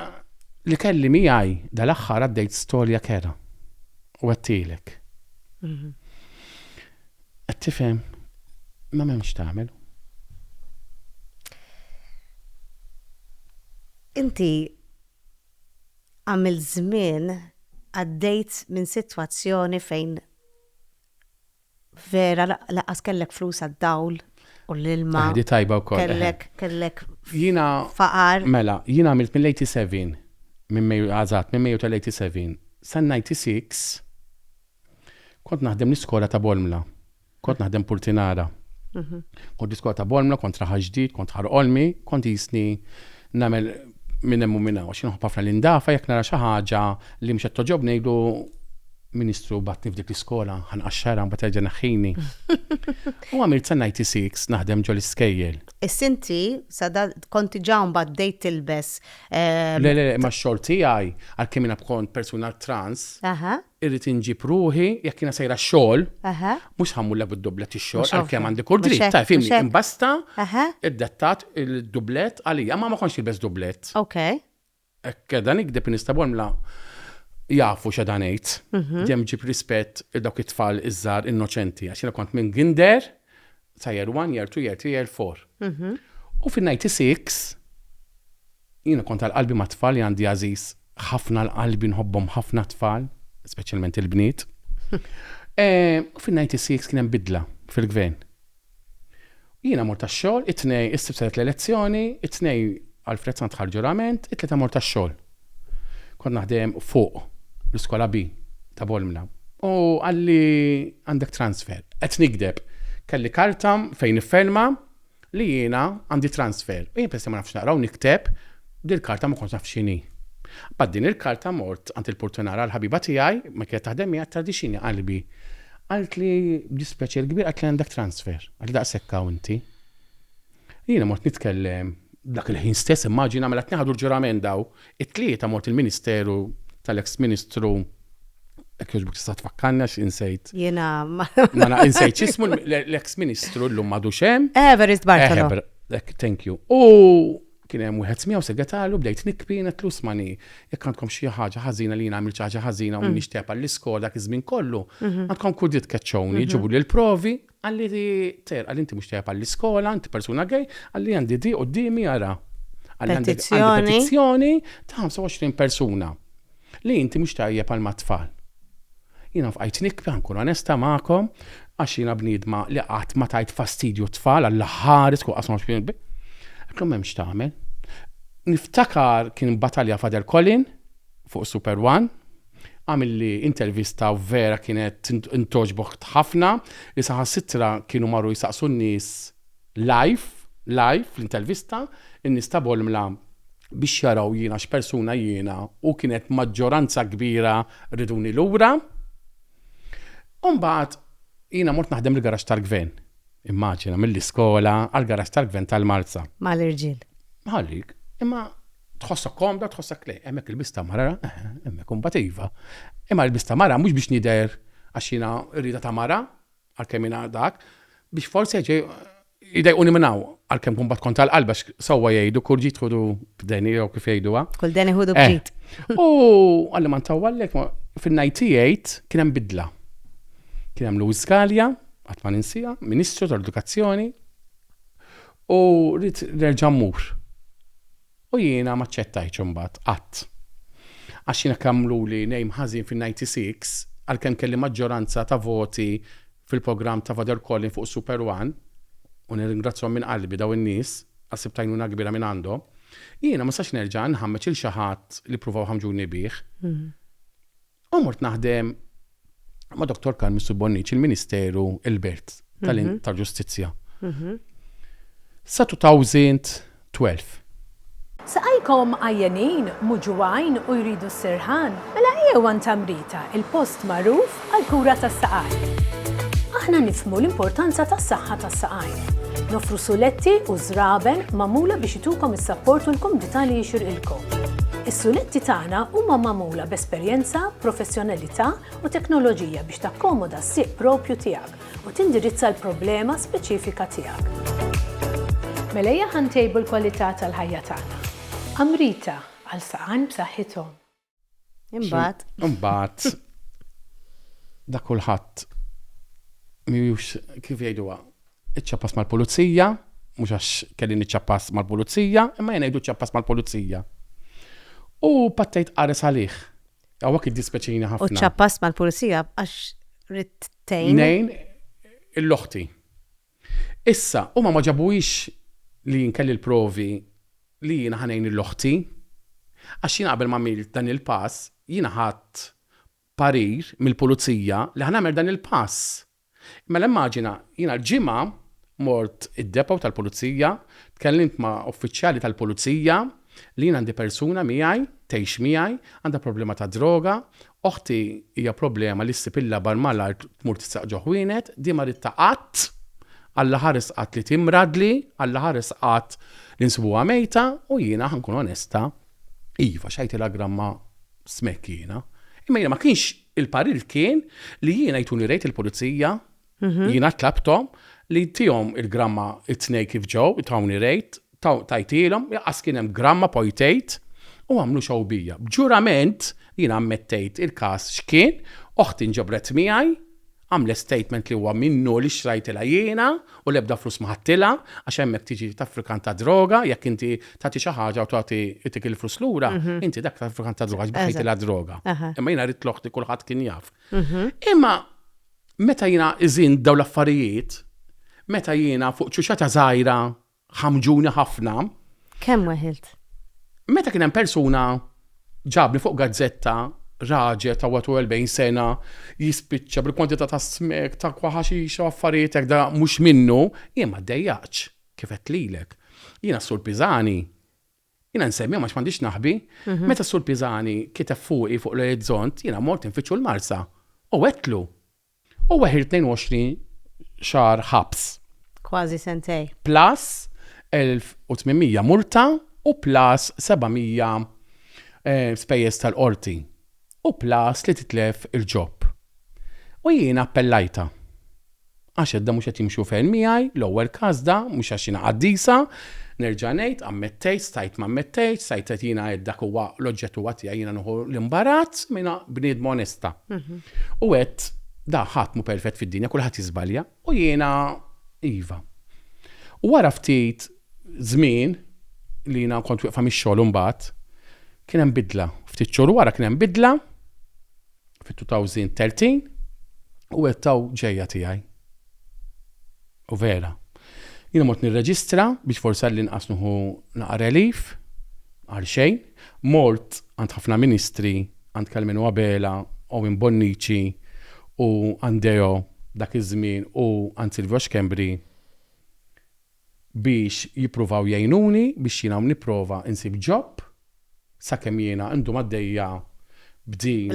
li kelli miegħi dal-aħħar għaddejt storja kera. U għattilek. Mhm. Qed tifhem ma m'hemmx tagħmel. Inti għamilt żmien għaddejt minn sitwazzjoni fejn vera lanqas kellek flus għad-dawl u l-ilma. Di tajba wkoll. Kellek, kellek faqar. Mela, jiena għamilt mill-87, minn May, għażat, minn May tal-87 san-96 kont naħdem l-iskola ta' Bolmla. Kont naħdem Purtinara. Kont l-iskola ta' Bormla, kont raħal ġdid, kont ħar olmi, kont jisni namel minn hemm u minn hawn. X'inħobb ħafna l-indafa jekk nara xi ħaġa li mhux qed toġob ngħidu Ministru batni f'dik l-iskola, ħanqaxxara mbagħad terġa' neħħini. U għamilt sa 96 naħdem ġol iskejjel. Is-sinti sa kont diġà mbagħad bdejt tilbes. Le le ma xogħol tiegħi għalkemm jiena kont persuna trans. Aha. Irrid inġib ruħi, jekk jiena sejra x-xogħol, mhux ħa mmullek bid-dublett ix-xogħol għalkemm għandi kull dritt, taf fimni, imbasta iddettat il-dublett għalija, ma ma kontx nilbes dublett. Ok. Hekk dan ikdeb nista' b'għamla jafu x'għadha ngħid, mhm. dejjem ġib rispett il dawk it-tfal iż-żgħar innoċenti għax jiena kont minn Ginder sa year 1, year 2, year 3, year 4. Mhm. U fin-96 Jiena kont għal qalbi mat-tfal li għandi għażiż ħafna għal qalbi nħobbhom ħafna t-tfal, speċjalment il-bniet. U fin-96 kien hemm bidla fil-Gvern. U jiena mort għax-xogħol, it-Tnejn, is-Sibt saret l-elezzjoni, it-Tnejn Alfred Sant ħa l-ġurament, it-Tlieta mort għax-xogħol. Kont naħdem fuq l-Iskola B ta' Bolmla. U qalli għandek transfer. Qed nigdeb. Kelli karta fejn nifferma li jiena għandi transfer u jien peress li ma nafx naqra u nikteb, din il-karta ma kontx naf x'inhi. Mbagħad din il-karta mort għand il-purtunara għal ħabiba tiegħi ma kienet taħdem miegħi għedtilha di x'inhi qalbi. Qaltli b'dispjaċir kbir qaltli għandek transfer. Qaltli daqshekk hawn inti. Jiena mort nitkellem dak il-ħin stess immaġina mela qed nieħdu l-ġurament daw It-Tlieta mort il-Ministeru tal-eks Ministru jekk jogħġbok tista' tfakkarni għax insejt. Jiena ma naf insejt x'ismu l-eks Ministru llum m'għadux hemm. Evarist Bartolo. Thank you. U kien hemm wieħed miegħu segretarju bdejt nikbi netlu smani jekk għandkom xi ħaġa ħażina li jien għamilt xi ħaġa ħażina u nixtieq għall-iskola dak iż-żmien kollu, għandkom kull dritt tkeċċewni, ġibu li l-provi Qalli, Ter, qalli inti mhux tajjeb għall-iskola, inti persuna gay, qalli għandi di qudiemi ara. Qalli għandi petizzjoni ta' 25 persuna li inti mhux tajjeb għal mat-tfal. Jiena fqajt nikbi nkun onesta magħkom għax jiena bniedma li qatt ma tajt fastidju tfal għall-aħħar isku qasma xbinbi. Għatlhom m'hemmx tagħmel. Niftakar kien battalja Fader Colin fuq Super One Għamilli intervista u vera kienet intogħġbok ħafna li saħansitra kienu marru jsaqsu n-nies live, live, fl-intervista, in-nies ta' Bolmla biex jaraw jiena x'persuna jiena u kienet maġġoranza kbira riduni lura. U mbagħad jiena mort naħdem il-garaxx tal-Gvern. Immaġina, mill-iskola għall-garaxx tal-gvern tal-Marsa. Mal-irġiel. Ħallik, imma tħossok komda, tħossok le, hemmhekk il-bista mara, eh, hemmhekk imbagħad iva. Imma l-bista mara mhux biex nidher għax jiena rrida ta' mara, għalkemm jiena dak, biex forsi ġej idejquni minn hawn għalkemm kumbat kont tal-qalba sewwa jgħidu kull ġid ħudu b'deni jew kif jgħiduha. Kull deni ħudu eh. b'ġid. U għalli ma ntawwallek fin-98 kien hemm bidla. Kien hemm Louis Scalia, Qatt ma ninsiha, Ministru tal-Edukazzjoni u rrid nerġa' mmur. U jiena ma ċċettajtx imbagħad qatt. Għax jiena kemm għamluli name ħażin fin-96 għalkemm kelli maġġoranza ta' voti fil-programm ta' Father Collin fuq Super One, u nirringrazzjahom minn qalbi dawn in-nies għax sibt għajnuna kbira minn għandhom, jiena ma nistax nerġa' nħammeġ lil xi ħadd li ppruvaw jħammġuni bih. U mort naħdem ma' Dr. Carl Missur Bonnici, il-Ministeru il-Birt tal-Ġustizzja. 2012. Saqajkom għajjenin, muġugħin u jridu s-sirħan? Mela ejjew għand Amrita, il-post magħruf għall-kura tas-saqajn. Aħna nifhmu l-importanza tas-saħħa tas-saqajn. Noffru suletti u żraben magħmula biex itukom is-sapport u l-kumdità li jixirqilkom. Is-suletti tagħna huma magħmula. magħmula b'esperjenza, professjonalità u teknoloġija biex takkomoda s-sieq proprju tiegħek u tindirizza l-problema speċifika tiegħek. Mela ejja ħa ntejbu l-kwalità tal-ħajja tagħna. Amrita, għal saqajn b'saħħithom. Imbagħad. Imbagħad. Dak kulħadd mhijiex kif jgħiduha Iċċappas mal-pulizija, mhux għax kelli niċċappas mal-pulizija, imma jien ngħidu ċċappas mal-pulizija. U pattejt qares għalih. Hawnhekk iddispjaċini ħafna. U ċċappas mal-pulizija għax rid tejn. Nejn il-loħti. Issa, huma ma ġabuhiex li jien kelli l-provi li jiena ħanejn il-loħti. Għax jiena qabel ma għamilt dan il-pass, jiena ħadd parir mill-pulizija li ħanagħmel dan il-pass. Mela immaġina, jiena l-Ġimgħa mort id-depot tal-pulizija, tkellimt ma' uffiċjali tal-pulizija li jien għandi persuna miegħi, tgħix miegħi, għandha problema ta' droga, oħti hija problema li ssib il-labar malajr tmur tistaq ġo ħwienet, di ma ridtha qatt, Alla ħares qatt li timradli, Alla ħares qatt li nsibuha mejta, u jiena ħa nkun onesta, iva x'għajtilha gramma smekk jiena, imma jiena ma kienx. Il-parir kien li jiena jtuni rejt il-pulizija, jiena tlabthom li jtihom il-gramma t-tnejn kif ġew, tawni rejt, tajtielhom, lanqas kien hemm gramma poi tgħid, u għamlu show bija. B'ġurament jiena ammettejt il-każ x'kien, oħti nġabret miegħi, għamlet statement li huwa minnu li xtrajtilha jiena u l-ebda flus ma ħadtilha għax hemmhekk tiġi traffikant ta' droga, jekk inti tagħti xi ħaġa u tagħti itik il-flus lura, inti dak traffikant ta' droga għax baħħejtilha d-droga. Imma jiena ridt l-oħti kulħadd kien jaf. Imma meta jiena iżin dawn l-affarijiet, meta jiena fuq ċuċata żgħira ħamġuni ħafna. Kemm weħilt? Meta kien hemm persuna ġabni fuq gazzetta raġel ta' 41 sena jispiċċa bil-kwantità ta' smek, ta' kwaħaxix u affarijiet hekk da mhux minnu, jien ma ddejjaqtx kif għedt lilek. Jiena s-Sur Pisani, jiena nsemmihom għax m'għandix naħbi, meta s-Sur Pisani kiteb fuqi fuq l-orizzont jiena mort infittxu l-Marsa u għedtlu U weħir 22 xahar ħabs. Kważi sentejn. Plus 1,800 multa u plus 700 spejjeż tal-qorti u plus li titlef il-job. U jiena appellajtha. Għax edha mhux qed jimxu ferm miegħi, l-ewwel każda, mhux għax jiena qaddisa, Nerġa' ngħid, ammettejt, stajt ma ammettejtx, stajt għedt jiena għedt dak huwa l-oġġett huwa tiegħi jiena nieħu l-imbarazz minha bniedma onesta. U għedt da ħadd mhu perfett fid-dinja kulħadd jiżbalja u jiena iva. U wara ftit żmien li jiena kont wieqfa mix-xogħol imbagħad kien hemm bidla. Ftit xhur wara kien hemm bidla. Fit-2013 u għedt taw ġejja tiegħi. U vera. Jiena mort nirreġistra biex forsi għall-inqas nuħu naqa' relief għal xejn. Mort għand ħafna ministri, għand Kalmenu Abela, Owen Bonnici u Andeo dak iż-żmien u għand Silvio Schembri. biex jippruvaw jgħinuni biex jiena nipprova nsib job sakemm jiena ndum għaddejja b'din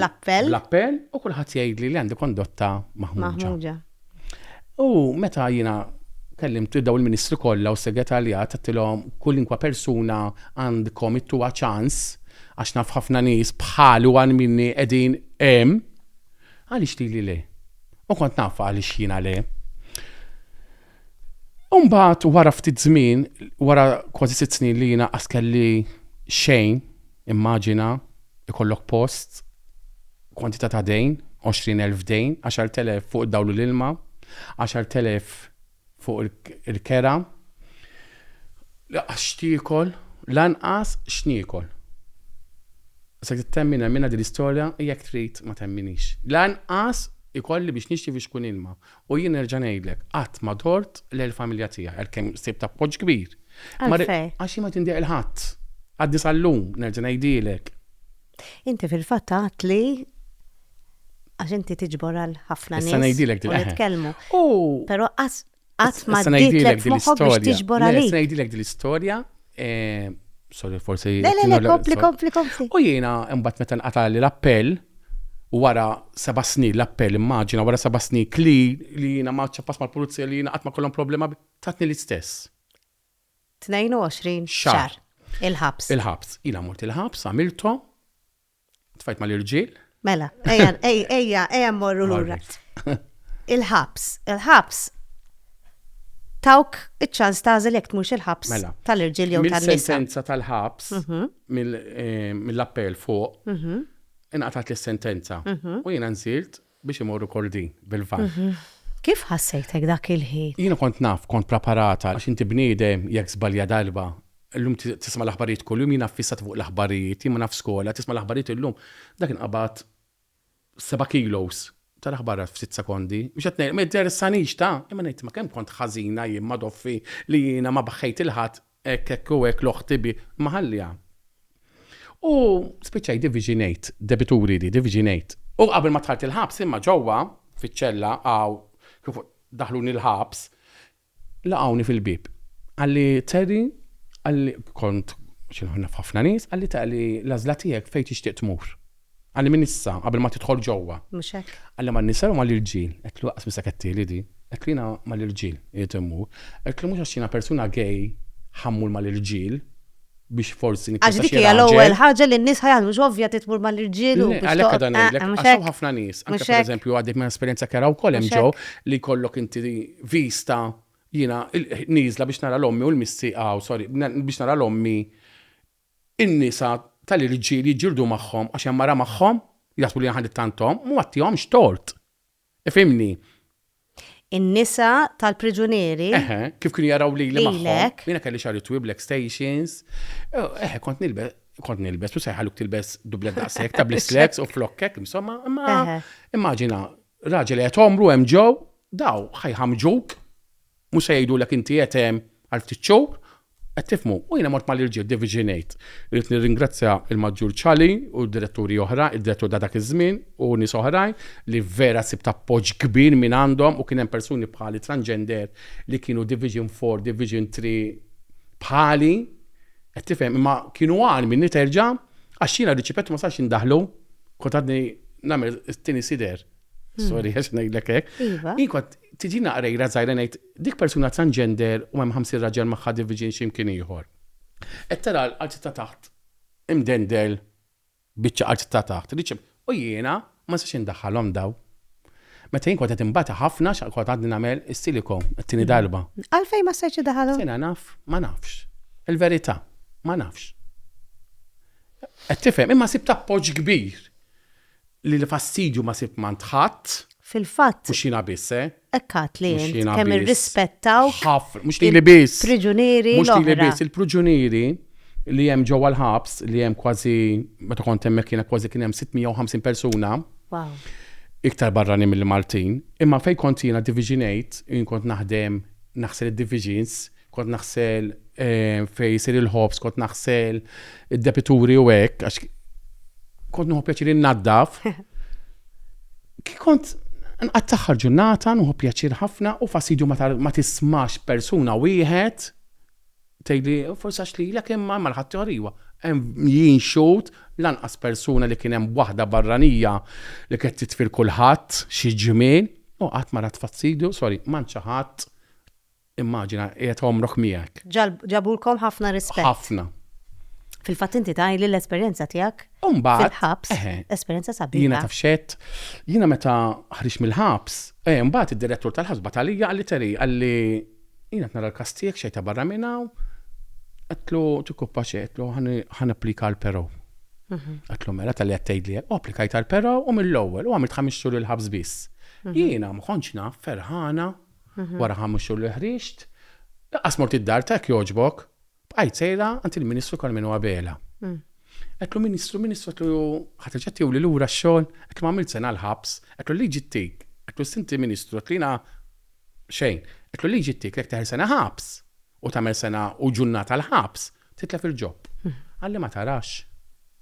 bl-appell u kulħadd jgħidli li għandi kondotta maħmuġa. U meta jiena kellimt lil dawn il-ministri kollha u s-segretarjat għedtilhom kullinkwa persuna għandkom ittuha ċans għax naf ħafna nies bħali u għal minni qegħdin hemm, għaliex lili le? U kont naf għaliex jiena le. Umbagħad wara ftit żmien, wara kważi sitt snin li jiena qas kelli xejn, immaġina ikollok post, kwantità ta' dejn, 20,000 dejn, 10,000 fuq id-dawl u l-ilma, 10,000 fuq il-kera, lanqas x'tiekol, lanqas x'niekol. Se tittemmi nemminha din l-istorja, jekk trid ma temminix. Lanqas ikolli biex nixtri fiex kun ilma. U jien nerġa' ngħidlek, qatt ma dort lejn il-familja tiegħi għalkemm sibt appoġġ kbir. Għalfejn? Għax jien ma rid indeher 'l ħadd. Għadni sal-lum nerġa' ngħidhielek. Inti fil-fatt għedt li għax inti tiġbor għal ħafna nies. Issa ngħidilek din l-istorja. U nitkellmu. Però qatt ma ġietlek f'moħħok biex tiġbor għalik. Issa ngħidilek din l-istorja Eh, sorry, forsi. Le, le, le, kompli, kompli, kompli. U jiena imbagħad meta nqata' li l-appell u wara seba' snin l-appell immaġina wara seba' snin kli li jiena ma ċappas mal-pulizija li jiena qatt ma kollhom problema tatni l-istess. 22 xar. Il-ħabs. Il-ħabs. Jiena mort il-ħabs, għamilthom, Tfajt mal-irġiel? Mela, ejja, ejja, ejja morru lura. Il-ħabs, il-ħabs tawk iċ-ċans tażel jekk tmux il-ħabs mela, tal-irġiel jew tal-nisa. Mill-sentenza tal-ħabs, mhm. eh, mill-appell fuq, mhm. inqatat l-sentenza. Mhm. U jiena nsirt Biex imorru Kordin bil-van. Kif ħassejtek dak il-ħin? Jiena kont naf, kont preparata, għax inti bniedem jekk żbalja darba, illum tisma' l-aħbarijiet kuljum, jiena ffissata fuq l-aħbarijiet, jien ma nafx skola, tisma' l-aħbarijiet illum, dak inqabad seba' kilos tal-aħbariat f'sitt sekondi, mhux qed ngħid, ma jinteressanix ta', imma ngħid imma kemm kont ħażina jien ma' Doffi li jiena ma baħħejt 'il ħadd Hekk, hekk u hekk l-oħt tibi ma ħalliha. U spiċċajt diviġinejt, debituri li diviġinejt. U qabel ma dħalt il-ħabs imma ġewwa, fiċ-ċella, hawn, kif daħħluni l-ħabs, laqgħuni fil-bieb. Qalli, Terry, qalli, kont, xi naf ħafna nies, qalli, Terry, l-għażla tiegħek fejn tixtieq tmur. Qalli minn issa, qabel ma tidħol ġewwa. Mhux hekk? Qalli man-nisa jew mal-irġiel? Għedtlu lanqas minn saketti li di. Għedtlu jiena mal-irġiel irrid immur. Għedtlu mhux għax jiena persuna gay ħa mmur mal-irġiel biex forsi nikkonsidraha raġel. Għax dik hija l-ewwel ħaġa li n-nies ħa jagħmlu mhux ovvja trid tmur mal-irġiel u biex. Għalhekk qiegħda ngħidlek għax hawn ħafna nies, anke pereżempju għaddejt minn esperjenza kera wkoll hemm ġo li jkollok inti vista jiena nieżla biex nara l-ommi u l-missi, aw sorry, biex nara l-ommi In-nisa tal-irġiel jiġġieldu magħhom għax hemm mara magħhom? Jaħsbu li aħna ttanthom? Ma għattihomx tort. Ifhimni. In-nisa tal-priġunieri. Eħe, kif kienu jaraw lili magħhom. Lilek. Jiena kelli xagħri twil b'lek stations. Eħe, kont nilbes, kont nilbes u sejħaluk tilbes dublet daqs hekk ta' bl-slacks u flokk hekk, insomma, imma immaġina raġel qed għomru hemm ġew, daw ħajħammġuk, mhux se jgħidulek inti qed hemm għal ftit xhur, Qed tifhmu? U jiena mort mal-irġiel Davies ngħid, irrid nirringrazzja l-Maġġur Ciali u d-diretturi oħra, id-direttur ta' dak iż-żmien u nies oħrajn li vera sibt appoġġ kbir minn għandhom u kien hemm persuni bħali transgender li kienu Division Four, Division Three bħali, qed tifhem, imma kienu agħar minni terġa' għax jiena riċipett u ma sarx indaħħlu, kont għadni nagħmel it-tieni sider, sorry għax ngħidlek hekk, jien kont tiġina qrejra żgħira ngħid, Dik persuna transgender u hemm ħamsin raġel magħha division xi mkien ieħor. Qed tara l-arti ta' taħt imdendel biċċa art ta' taħt li ċ. U jiena ma nistax indaħħalhom dawn. Meta jien kont qed inbata ħafna x'għal kont għadni nagħmel is-silicone it-tieni darba. Għalfejn ma stajtx iddaħħalhom? Jiena naf, ma nafx. Il-verità, ma nafx. Qed tifhem? Imma sibt appoġġ kbir. Li l-fastidju ma sib m'għand ħadd. Fil-fatt. Mhux jiena biss, eh. Hekk għad li int kemm irrispettawk. Ħafna, mhux lili biss. Il-priġunieri l-oħra. Mhux lili biss, il-priġunieri li hemm ġewwa l-ħabs li hemm kważi meta kont hemmhekk jiena kważi kien hemm 650 persuna. Wow. Iktar barranin mill-Maltin, imma fejn kont jiena diviġinejt, jien kont naħdem naħsel id-divisions, kont naħsel fejn isir il-ħobż, kont naħsel id-depituri u hekk, għax kont nuħu pjaċir innaddaf. Kont nqatt taħħar ġurnata, nuħu pjaċir ħafna u fasidju ma tismax persuna wieħed tgħidli forsi għax li l imma ma l-ħadd ħoriwa. Jien xut lanqas persuna li kien hemm waħda barranija li qed titfil kulħadd xi ġimien, u qatt ma rat fastidio, sorry, ma nċaħat Immaġina, qiegħed għomrok miegħek. Ġabulkom ħafna rispett. Ħafna. Fil-fatt inti tgħid li l-esperjenza tiegħek fil-ħabs, esperjenza sabiħa. Jiena taf xed, jiena meta ħriġ mill-ħabs, eh, mbagħad id-direttur tal-ħabs batalija għalli teri għalli jiena nara l-kastijek xejta barra minna, għatlu tikuppa xejtlu ħan applika l-pero. Mhm. Għatlu mela tal-li għattajd li u applikajt għal-pero u mill-ewwel u għamilt ħamis xhur il-ħabs biss. Mhm. Jiena ma naf ferħana Wara ħames xhur li ħriġt, lanqas mort id-dar ta' jekk jogħġbok, bqajt sejra għand il-Ministru Karmenu Abela. Għedtlu, Ministru, Ministru, għedtlu, ħa terġa' tiewli lura x-xogħol? Għedtlu, m'għamilt sena l-ħabs. Għedtlu, l-liġi ttik. Għedtlu, issa inti Ministru, għedtlu, jiena xejn. Għedtlu, l-liġi ttik li jekk teħel sena ħabs u tagħmel sena u ġurnata l-ħabs, Titlef il-ġob. Għalli ma tarax.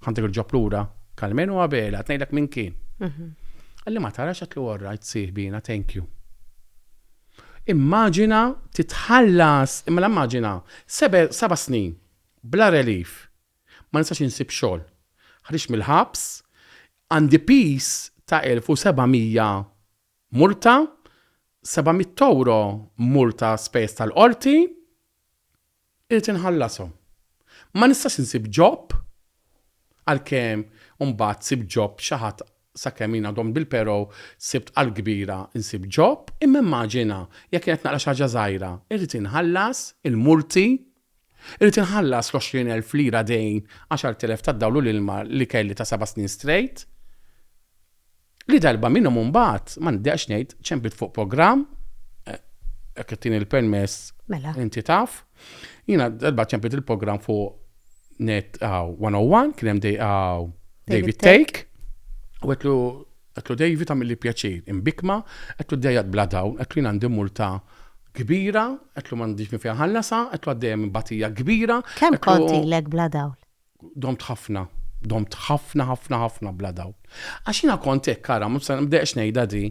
Ħantik il-ġob lura. Carmen u Abela, qed ngħidlek min kien. Għalli ma tarax qed li all right sieħbi jiena thank you. Immaġina titħallas, mela immaġina, seba' snin, bla relief, ma nistax insib xogħol, ħriġt mill-ħabs, għandi piż ta' 1,700 multa, 700 ewro multa spejjeż tal-qorti, Irrid inħallashom. Ma nistax insib job, għalkemm imbagħad sibt job xi ħadd sakemm jien għadhom bil-pero sibt għall-kbira nsib job, imma immaġina jekk jien qed naqra xi ħaġa żgħira, irrid inħallas il-multi, irrid inħallas l-għoxrin elf lira dejn għaxart elef tad-dawl u l-ilma li kelli ta' seba' snin straight. Li darba minnhom imbagħad, m'għandi għax ngħid, ċemplit fuq programm, eh, jekk qed tieni l-permess, mela. inti taf, jiena darba ċemplit il-programm fuq net għaw 101, kien hemm dej għaw David Take, u għetlu għetlu David għamil li pjaċir, imbikma, għetlu dejjat bla dawn, għetlu jina għandi multa kbira, għetlu mandiġ mi fiħallasa, għetlu għaddejem batija kbira. Kem konti l-ek bla dawn? Domt ħafna. Domt ħafna ħafna ħafna bla dawl. Għax jiena kont hekk ara, mhux se, m'deqx ngħidha di.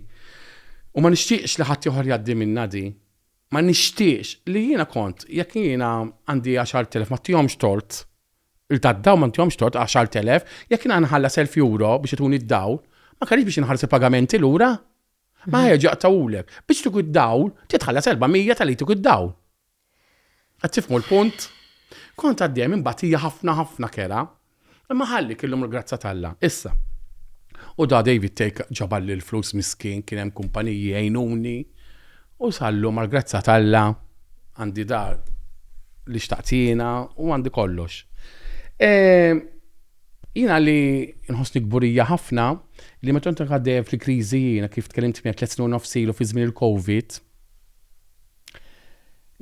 U ma nixtieqx li ħadd ieħor jgħaddi minnha di. Ma nixtieqx li jiena kont, jekk jiena għandi għaxart elef ma ntihomx tort, il tad-dawl ma ntihomx tort, għaxart elef, jekk jiena nħallas elf euro biex ituni d-dawl, ma kellix biex inħallas il-pagamenti lura. Ma għeġ jaqtgħulek. Biex jtuk id-dawl, trid tħallas erba' mija tal-li jtuk id-dawl. Qed tifhmu l-punt? Kont għaddejja minn batija ħafna ħafna kerha, imma ħallik illum il-grazzja t'Alla. Issa, u da David Thake ġaballi l-flus miskin, kien hemm kumpaniji għinuni, u sal-lum għall-grazzja t'Alla għandi dar li xtaqt jiena u għandi kollox. Ehm, jiena li nħossni kburija ħafna li meta kont għaddejja fil-kriżi jiena kif tkellimt miegħek tliet snin u nofs ilu fi żmien il-COVID,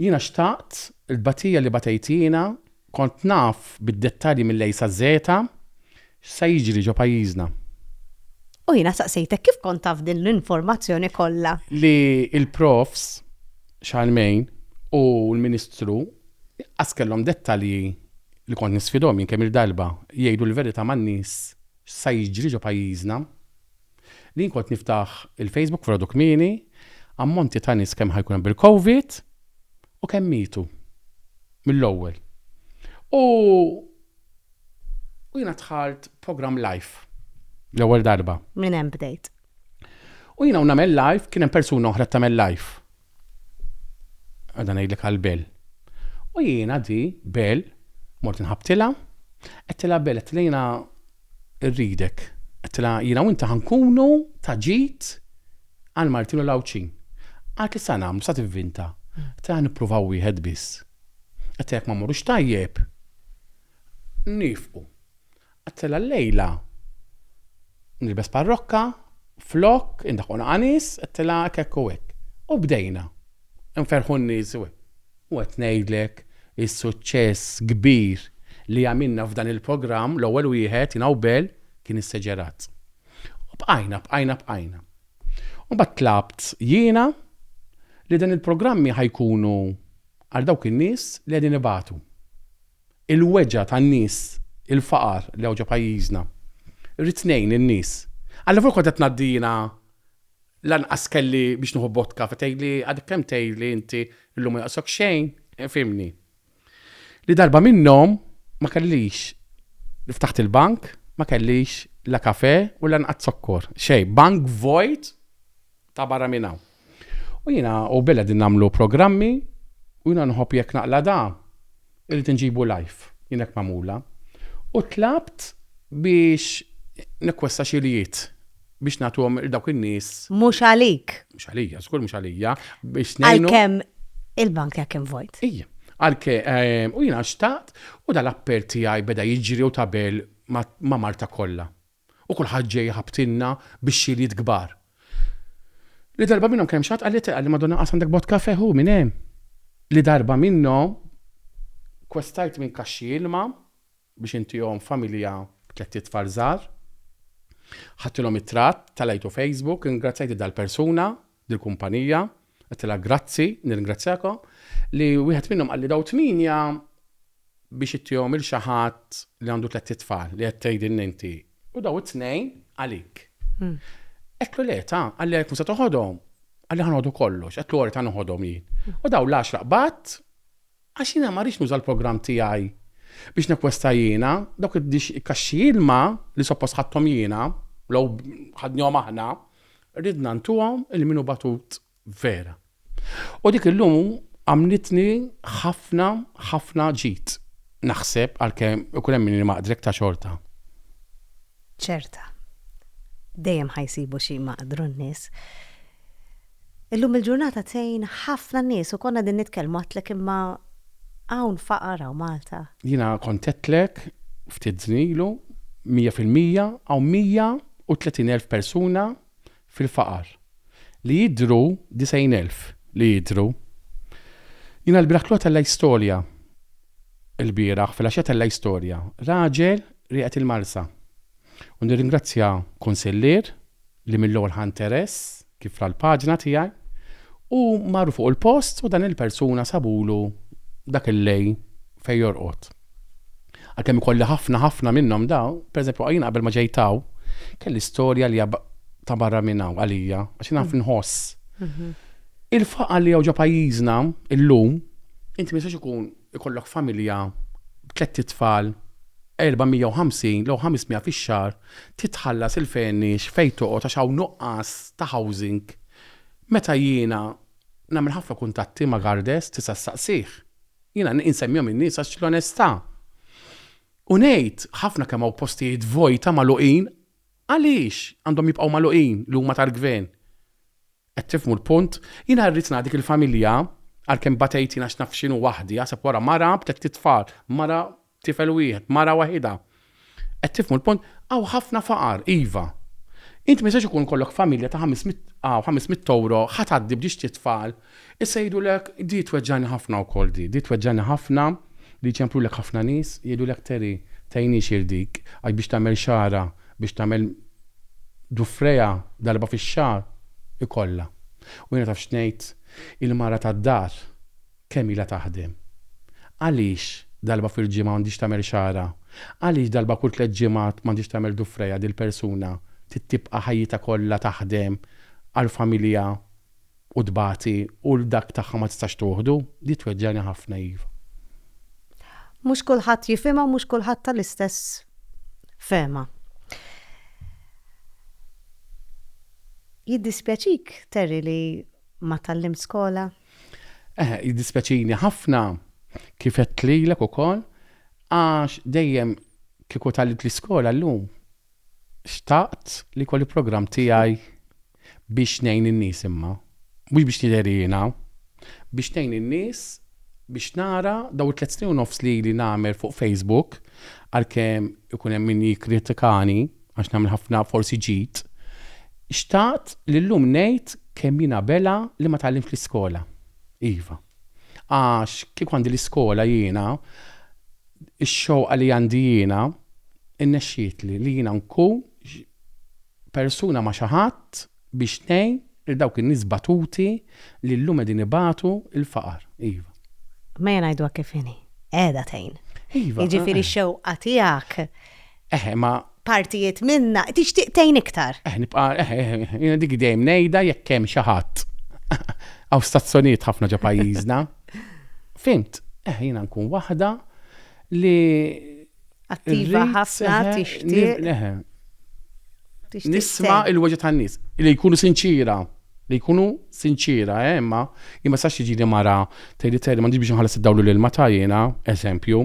Jiena xtaqt il-batija li batejtina, kont naf bid-dettalji mill-A sa Z-a x'se jiġri ġo pajjiżna. U jiena saqsejtek kif kont taf din l-informazzjoni kollha? Li l-profs Charlemagne u l-Ministru qas kellhom dettalji li kont nisfidhom jien kemm-il darba jgħidu l-verità man-nies x'sa jiġri ġo pajjiżna. Li jien kont niftaħ il-Facebook f'Għodu kmieni, ammonti ta' nies kemm ħa jkun hemm bil-Covid u kemm mietu mill-ewwel. U u jiena dħalt programm live l-ewwel darba. Minn hemm bdejt. U jiena u nagħmel live kien hemm persuna oħra tagħmel live. Għadha ngħidlek għal Bel. U jiena di Bel mort inħabtilha, għedtilha Bel għedtilha jiena rridek. Għedtilha jiena u inti ħankunu ta' ġid għal Martin u l-Għawdxin. Għalt li sa nagħmlu sa tivvinta. Għedtilha nippruvaw wieħed biss. Għedtilha jekk ma mmorrux tajjeb nifqu. Għattela llejla nilbes parrokka flok indaħqu naqa' nies għattela hekk hekk u hekk. U bdejna nferrħu n-nies u hekk. U qed ngħidlek is-suċċess kbir li għamilna f'dan il-programm l-ewwel wieħed jiena u Bel kien is-Seġerazz. U bqajna bqajna bqajna. U mbagħad tlabt jiena li dan il-programmi ħa jkunu għal dawk in-nies li qegħdin ibatu. il-weġgħa tan-nies, il-faqar li hawn ġo pajjiżna. Irrid ngħin lin-nies. Allavolja kont qed ngħaddi jiena lanqas kelli biex nieħu vodka, fe tgħidli għadek kemm tgħidli inti llum ma jonqosok xejn, fhimni. Li darba minnhom ma kellix, ftaħt il-bank, ma kellix la kafè u lanqas zokkor, xejn, bank vojt ta' barra minn hawn. U jiena u Bill qegħdin nagħmlu programmi u jiena nħobb jekk naqla' da irrid inġibu live, jien hekk magħmula. U tlabt biex nekkwesta xi iljiet biex nagħtuhom lil dawk in-nies. Mhux għalik. Mhux għalija, żgur mhux għalija, biex ngħinu. Għalkemm il-bank tiegħek kien vojt. Ija. Għalkemm u jiena xtaqt u dal-appell tiegħi beda jiġri u ta' Bill ma' Malta kollha. U kulħadd ġej jħabbtilna bix-xiljiet kbar. Li darba minnhom kien hemm xi ħadd qalli, qalli, Madonna qas għandek vodka f'għeħ hu minn hemm! Li darba minnhom kwestajt minn kaxxi ilma biex intihom familja b'tlett itfal żgħar. Ħadtilhom it-tratt, tellgħajtu Facebook, ingrazzjajt lil dal-persuna lill-kumpanija, għedtilha grazzi, nirringrazzjaka, li wieħed minnhom qalli daw tmienja biex ittihom lil xi ħadd li għandu tlett itfal li qed tgħidilna inti u daw it-tnejn għalik. Għedtlu le, ta, qalli għalhekk mhux se toħodhom? Qalli ħa noħdu kollox, għedtlu ora ta noħodhom jien. U daw l-għaxra qbadt għax jiena ma rridx nuża l-programm tiegħi biex nekwesta jiena, dawk id-dix kaxxi ilma li suppost ħadthom jiena, law ħadnihom aħna, Ridna ntuhom lil min hu batut vera. U dik illum għamlitni ħafna, ħafna ġid, naħseb, għalkemm ikun hemm min imaqdrek ta' xorta. Ċerta. Dejjem ħa jsibu xi jmaqdru n-nies. Illum il-ġurnata tgħin ħafna nies u konna qegħdin nitkellmu għedtlek imma hawn faqar hawn Malta. Jiena kont għedtlek ftit żmien ilu, mija fil-mija hawn mija. 130,000 persuna fil-faqar li jidhru 90,000 li jidhru. Jiena l-bieraħ klgħu tella' istorja l-bieraħ filgħaxija tella' istorja raġel rieqed il-Marsa u nirringrazzja kunsillier li mill-ewwel ħa nteress kif ra l-paġna tiegħi u marru fuq il-post u dan il-persuna sabulu dak il-lejl fejn jorqod. Għalkemm ikolli ħafna ħafna minnhom dawn, pereżempju jiena qabel ma ġejt hawn, kelli storja li ta' barra minn hawn għalija għax jiena naf nħoss. Il-faqar li hawn ġo pajjiżna illum, inti ma jistax ikun ikollok familja b'tlett itfal, 450 jew 500 fix-xahar, trid tħallas il-fenix fejn toqgħod għax hawn nuqqas ta' housing. Meta jiena nagħmel ħafna kuntatti ma' Gardez, tista' ssaqsih. Jiena insemmihom in-nies għax l-onestà. U ngħid, ħafna kemm hawn postijiet vojta magħluqin, għaliex għandhom jibqgħu magħluqin li huma tal-Gvern? Qed tifhmu l-punt? Jiena rrid ngħaddi dik il-familja, għalkemm batejt jien għax naf x'inhu waħdi, aħseb wara mara b'tlett itfal, mara b'tifel wieħed, mara waħidha. Qed tifhmu l-punt? Hawn ħafna faqar, iva. Int ma jistax ikun ikollok familja ta' ħames mitt hawn ħames mitt ewro, ħa tgħaddi b'dixti tfal, issa jgħidulek, di tweġġagħni ħafna wkoll di, di tweġġagħni ħafna li jċemplulek ħafna nies, jgħidulek Terry, tgħinix il dik, għax biex tagħmel xagħarha, biex tagħmel Dufrea darba fix-xahar ikollha. U jiena taf x'ngħid? Il-mara tad-dar kemm ilha taħdem? Għaliex darba fil-ġimgħa m'għandhiex tagħmel xagħarha? Għaliex darba kull tliet ġimgħat m'għandhiex tagħmel dufrea dil-persuna trid tibqa' ħajjitha kollha taħdem għall-familja u tbati u l-dak tagħha ma tistax tuħdu, di tweġġagħni ħafna iva. Mhux kulħadd jifhimha u mhux kulħadd tal-istess fehma. Jiddispjaċik, Terry, li ma tallimt skola? Eh, jiddispjaċini ħafna kif qed lilek ukoll għax dejjem kieku tallimt l-iskola llum xtaqt li kolli programm tiegħi Biex ngħin in-nies imma. Mhux biex nidher jiena. Biex ngħin in-nies biex nara dawn it-tliet snin u nofs li ili nagħmel fuq Facebook, għalkemm ikun hemm min jikkritikani għax nagħmel ħafna forsi ġid, xtaqt li llum ngħid kemm jiena bela li ma tgħallimtx l-iskola. Iva. Għax kieku għandi l-iskola jiena, ix-xewqa li għandi jiena, irnexxietli li jiena nkun persuna ma' xi ħadd biex tgħin lil dawk in-nies batuti li llum qegħdin ibatu l-faqar. Iva. Mejja ngħiduha kif inhi, qiegħda tgħin. Iva. Jiġifieri x-xewqa tiegħek. Eħ, imma. Partijiet minnha, tixtieq tgħin iktar. Eħ, nibqa', eħ, jiena dik dejjem ngħidha jekk hemm xi ħadd. Hawn stazzjonijiet ħafna ġo pajjiżna. Fhimt? Eħ, jiena nkun waħda li Attiva ħafna tixtieq. Nisma il-weġa tan-nies li jkunu sinċira li jkunu sinċira, eh, imma imma sax tiġi li mara tgħid li tgħid m'għandix biex nħallas id-dawlu lil ma tajjena, eżempju,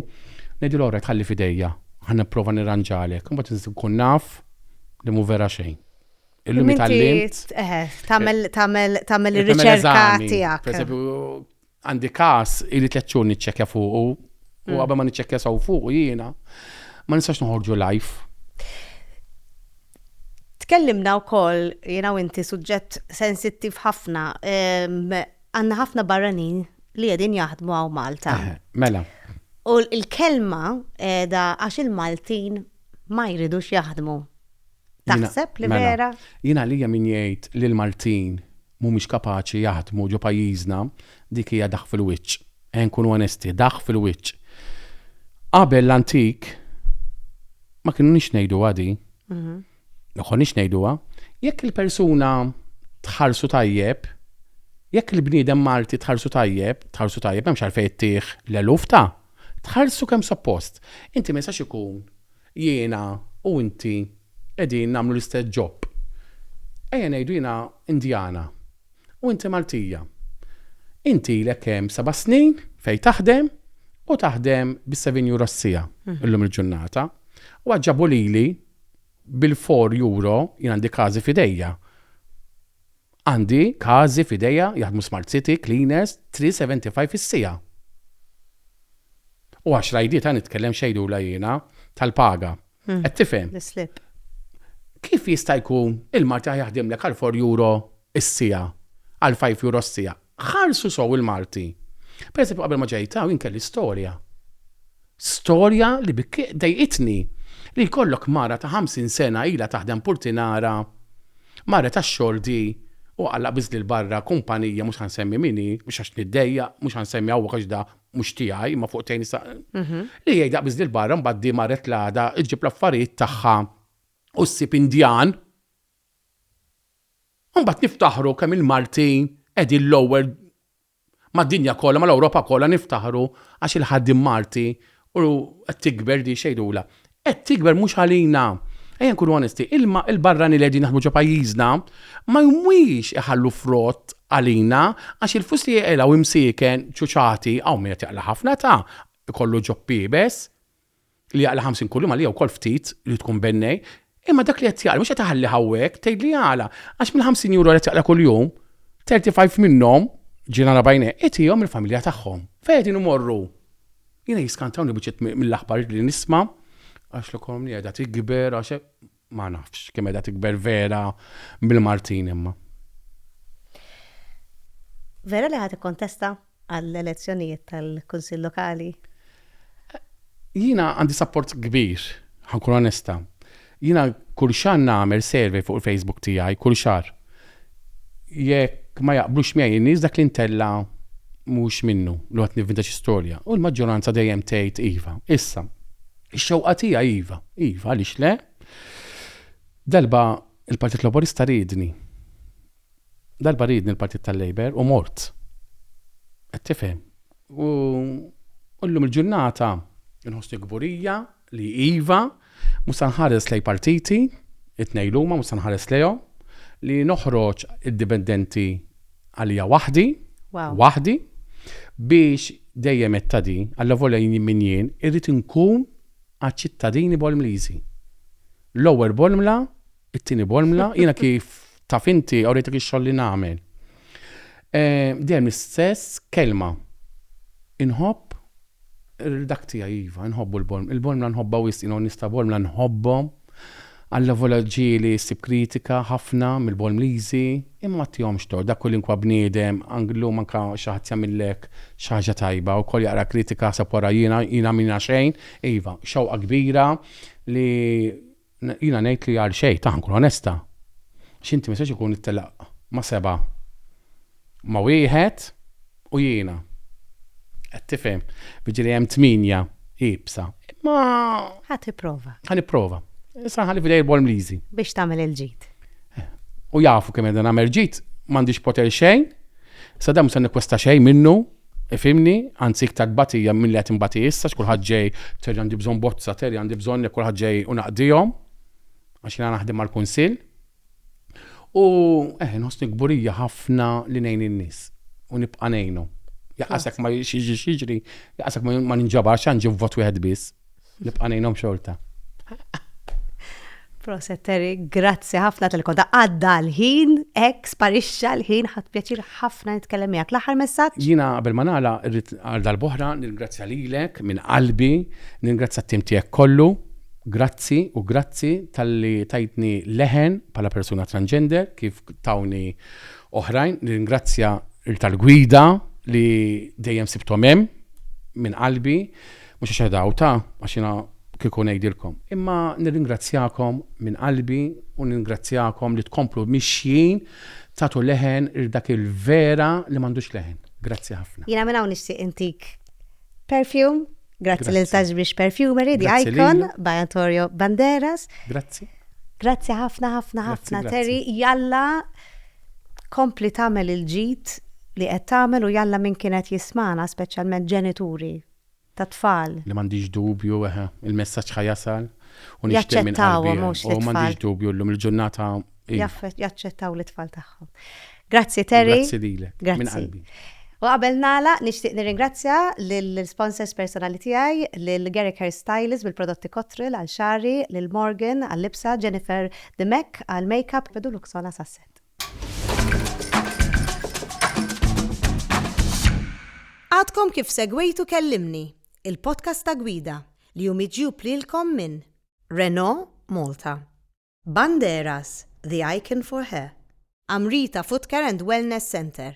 ngħidu l-ora tħalli fidejja, ħa nipprova nirranġalek, imbagħad nista' nkun naf li mhu vera xejn. Illum tagħmel tagħmel tagħmel ir-riċerka tiegħek. Għandi każ ili tliet xhur niċċekkja fuqu u qabel ma niċċekkja sew fuqu jiena ma nistax noħorġu live. Tkellimna wkoll jiena u inti suġġett sensittiv ħafna. Għandna ħafna barranin li qegħdin jaħdmu hawn Malta. Mela. U l-kelma da għax il-Maltin ma jridux jaħdmu. Taħseb li vera? Jiena lija min jgħid li l-Maltin mhumiex kapaċi jaħdmu ġo pajjiżna, dik hija daħq fil-wiċċ. Ejja nkunu onesti, daħq fil-wiċċ. Qabel l-antik ma kienniex ngħiduha di. Ma konniex ngħiduha. Jekk il-persuna tħarsu tajjeb, jekk il-bniedem Malti tħarsu tajjeb, tħarsu tajjeb, m'hemmx għalfejn ittih l-eluf ta' tħarsu kemm suppost. Inti ma jistax ikun Jiena u inti qegħdin nagħmlu l-istess ġob. Ejja ngħidu jiena Indjana u inti Maltija. Inti ilek hemm seba' snin fejn taħdem u taħdem bi seven euro s-siegħa illum il-ġurnata u għad ġabu lili bil-four euro, jien għandi każi f'idejja, Għandi każi f'idejja jaħdmu Smart City cleaners 3.75 is-siegħa. U għax rajditha nitkellem x'għidula jiena tal-paga. Qed tifhem? L-islip. Kif jista' jkun il-martiħa jaħdimlek għal four euro s-siegħa, għal five euro s-siegħa? Ħarsu sew il-Malti. Per eżempju qabel ma ġejt hawn jien kelli storja. Storja li dejqitni li jkollok mara ta' 50 sena ilha taħdem purtinara, marret għax-xordi u għalaq biżli 'l barra kumpanija mhux ħa nsemmi min hi, mhux għax niddejjaq, mhux ħa nsemmi hawnhekk għax da mhux tiegħi imma fuq tgħin nista' li hi għalaq biżli 'l barra mbagħad di marret l-għada ġġib l-affarijiet tagħha u ssib Indjan Imbagħad niftaħru kemm il-Maltin qegħdin l-ewwel mad-dinja kollha, mal-Ewropa kollha niftaħru għax il-ħaddiem Malti u qed tikber din x'għidulha. Qed tikber mhux għalina. Ejja nkunu onesti, il-barranin li qegħdin jaħdmu ġo pajjiżna ma jmwiex iħallu frott għalina għax il-flus li jeqilgħu imsieken, ċuċati, hawn min qed jeqla' ħafna ta' ikollu ġobb iebes. li jaqla' 50 kuljum għalija wkoll ftit li tkun bennej, imma dak li qed jaqla mhux qed iħalli ħawwek tgħid li jaqla. Għax mill-50 euro li qed jaqla' kuljum, 35 minnhom, ġie nara b'għajnejh, itihom lill-familja tagħhom. Fejn qegħdin imorru? Jiena jiskantawni biċċiet mill-aħbarijiet li nisma' għax l-ekonomija qiegħda tikber għax Ma nafx kemm qiegħda tikber Vera bil-Martin imma. Vera li ħadd ikkontesta għall-elezzjonijiet tal-Kunsill Lokali? Jiena għandi sapport kbir, ħankun onesta. Jiena kull xahar nagħmel survey fuq il-Facebook tiegħi, kull xahar. Jekk ma jaqblux miegħi in-nies dak li ntella mhux minnu li qed nivvinta xi storja. U l-maġġoranza dejjem tgħid iva. Issa, Ix-xewqa tiegħi iva, iva, għaliex le? Darba il-Partit Laburista riedni. Darba riedni l-Partit tal-Labour u mort. Qed tifhem. U llum il-ġurnata nħossni kburija li iva, mhux se nħares lej partiti, it-tnejn huma mhux se nħares lejhom, li noħroġ indipendenti għalija waħdi, waħdi, biex dejjem etta di, għalla volja jien minn jien, irrit nkun għal-ċittadini bolmlizi. L-ewwel bolmla, it-tieni bolmla, jiena kif taf inti għawrejtek ix-xogħol li nagħmel. Eh, dejjem l-istess kelma. Inħobb Dak tiegħi iva, inħobbu l-Bormla. Il-Bormla nħobbha wisq, jiena u n-nies ta' Bormla nħobbhom għall-evolaġġi li ssib kritika ħafna mill-Bormliżi, imma ma tihomx tort, dak kolinkwa bniedem, anki llum anke xi ħadd jagħmillek xi ħaġa tajba u kol jaqra kritika jaħseb wara jiena, jiena minna xejn, iva, xewqa kbira li Jiena ngħid li għal xejn, tah nkun onesta. Għax inti ma jistax ikun ittelaq ma' seba' ma' wieħed u jiena. Qed tifhem? Jiġifieri hemm tmienja iebsa. Imma. Ħa tipprova. Ħa nipprova. Issa nħalli f'idejn il-Bormliżi. Biex tagħmel il-ġid. U jafu kemm qiegħda nagħmel ġid, m'għandix poter xejn, sadank mhux se nikkwesta xejn minnu. Ifhimni, anzi iktar tbatija milli qed inbati issa għax kulħadd ġej, Terry għandi bżonn bozza, Terry għandi bżonn jekk kulħadd ġej u naqdihom għax jiena naħdem mal-Kunsill. U eh inħossni kburija ħafna li ngħin in-nies u nibqa' ngħinhom. Jaqasek ma jiġix jiġri, jaqasek ma ninġabarx għandi vot wieħed biss. Nibqa' ngħinhom xorta. Proset Terry, grazzi ħafna tal-koda għadda l-ħin, ek sparixxa l-ħin, ħadd pjaċir ħafna nitkellem miegħek. L-aħħar messaġġ? Jiena qabel ma nagħla rrid għal darb'oħra nirgrazzja lilek minn qalbi, nirgrazzja t-tim tiegħek kollu, grazzi u grazzi tal-li tajtni leħen bħala persuna transgender kif tawni oħrajn, nirgrazzja tal-gwida li dejjem sibtom hemm minn qalbi. Mhux għax qiegħda hawn ta' għax jiena kieku ngħidilkom. Imma nirringrazzjakom minn qalbi u ningrazzjakom li tkomplu mixjin tagħtu leħen lil dak il-vera li m'għandux leħen. Grazzi ħafna. Jiena minn hawn nixtieq intik perfume. Grazzi lil Sagebrush Perfumery, The Icon, by Antonio Banderas. Grazzi. Grazzi ħafna ħafna ħafna Terry. Jalla kompli tagħmel il-ġid li qed tagħmel u jalla min kienet jismana speċjalment ġenituri tat-tfal. Li m'għandix dubju, eħe, il-messaġġ ħa jasal u nixtieq minn qalbi, eħe, u m'għandix dubju llum il-ġurnata, iva. Jaċċettaw lit-tfal tagħhom. Grazzi Terry. Grazzi lilek, minn qalbi. U qabel nagħlaq, nixtieq nirringrazzja lill-sponsors personali tiegħi, lil Garrick Hair Stylist bil-prodotti Cottrell għal xagħri, lil Morgan għal-libsa, Jennifer Dimech għall-makeup, Pedulux għal-assassett. Għadkom kif segwejtu Kellimni, il-podcast ta' gwida li hu miġjub lilkom minn Renault Malta, Banderas, the icon for hair, Amrita Footcare and Wellness Centre,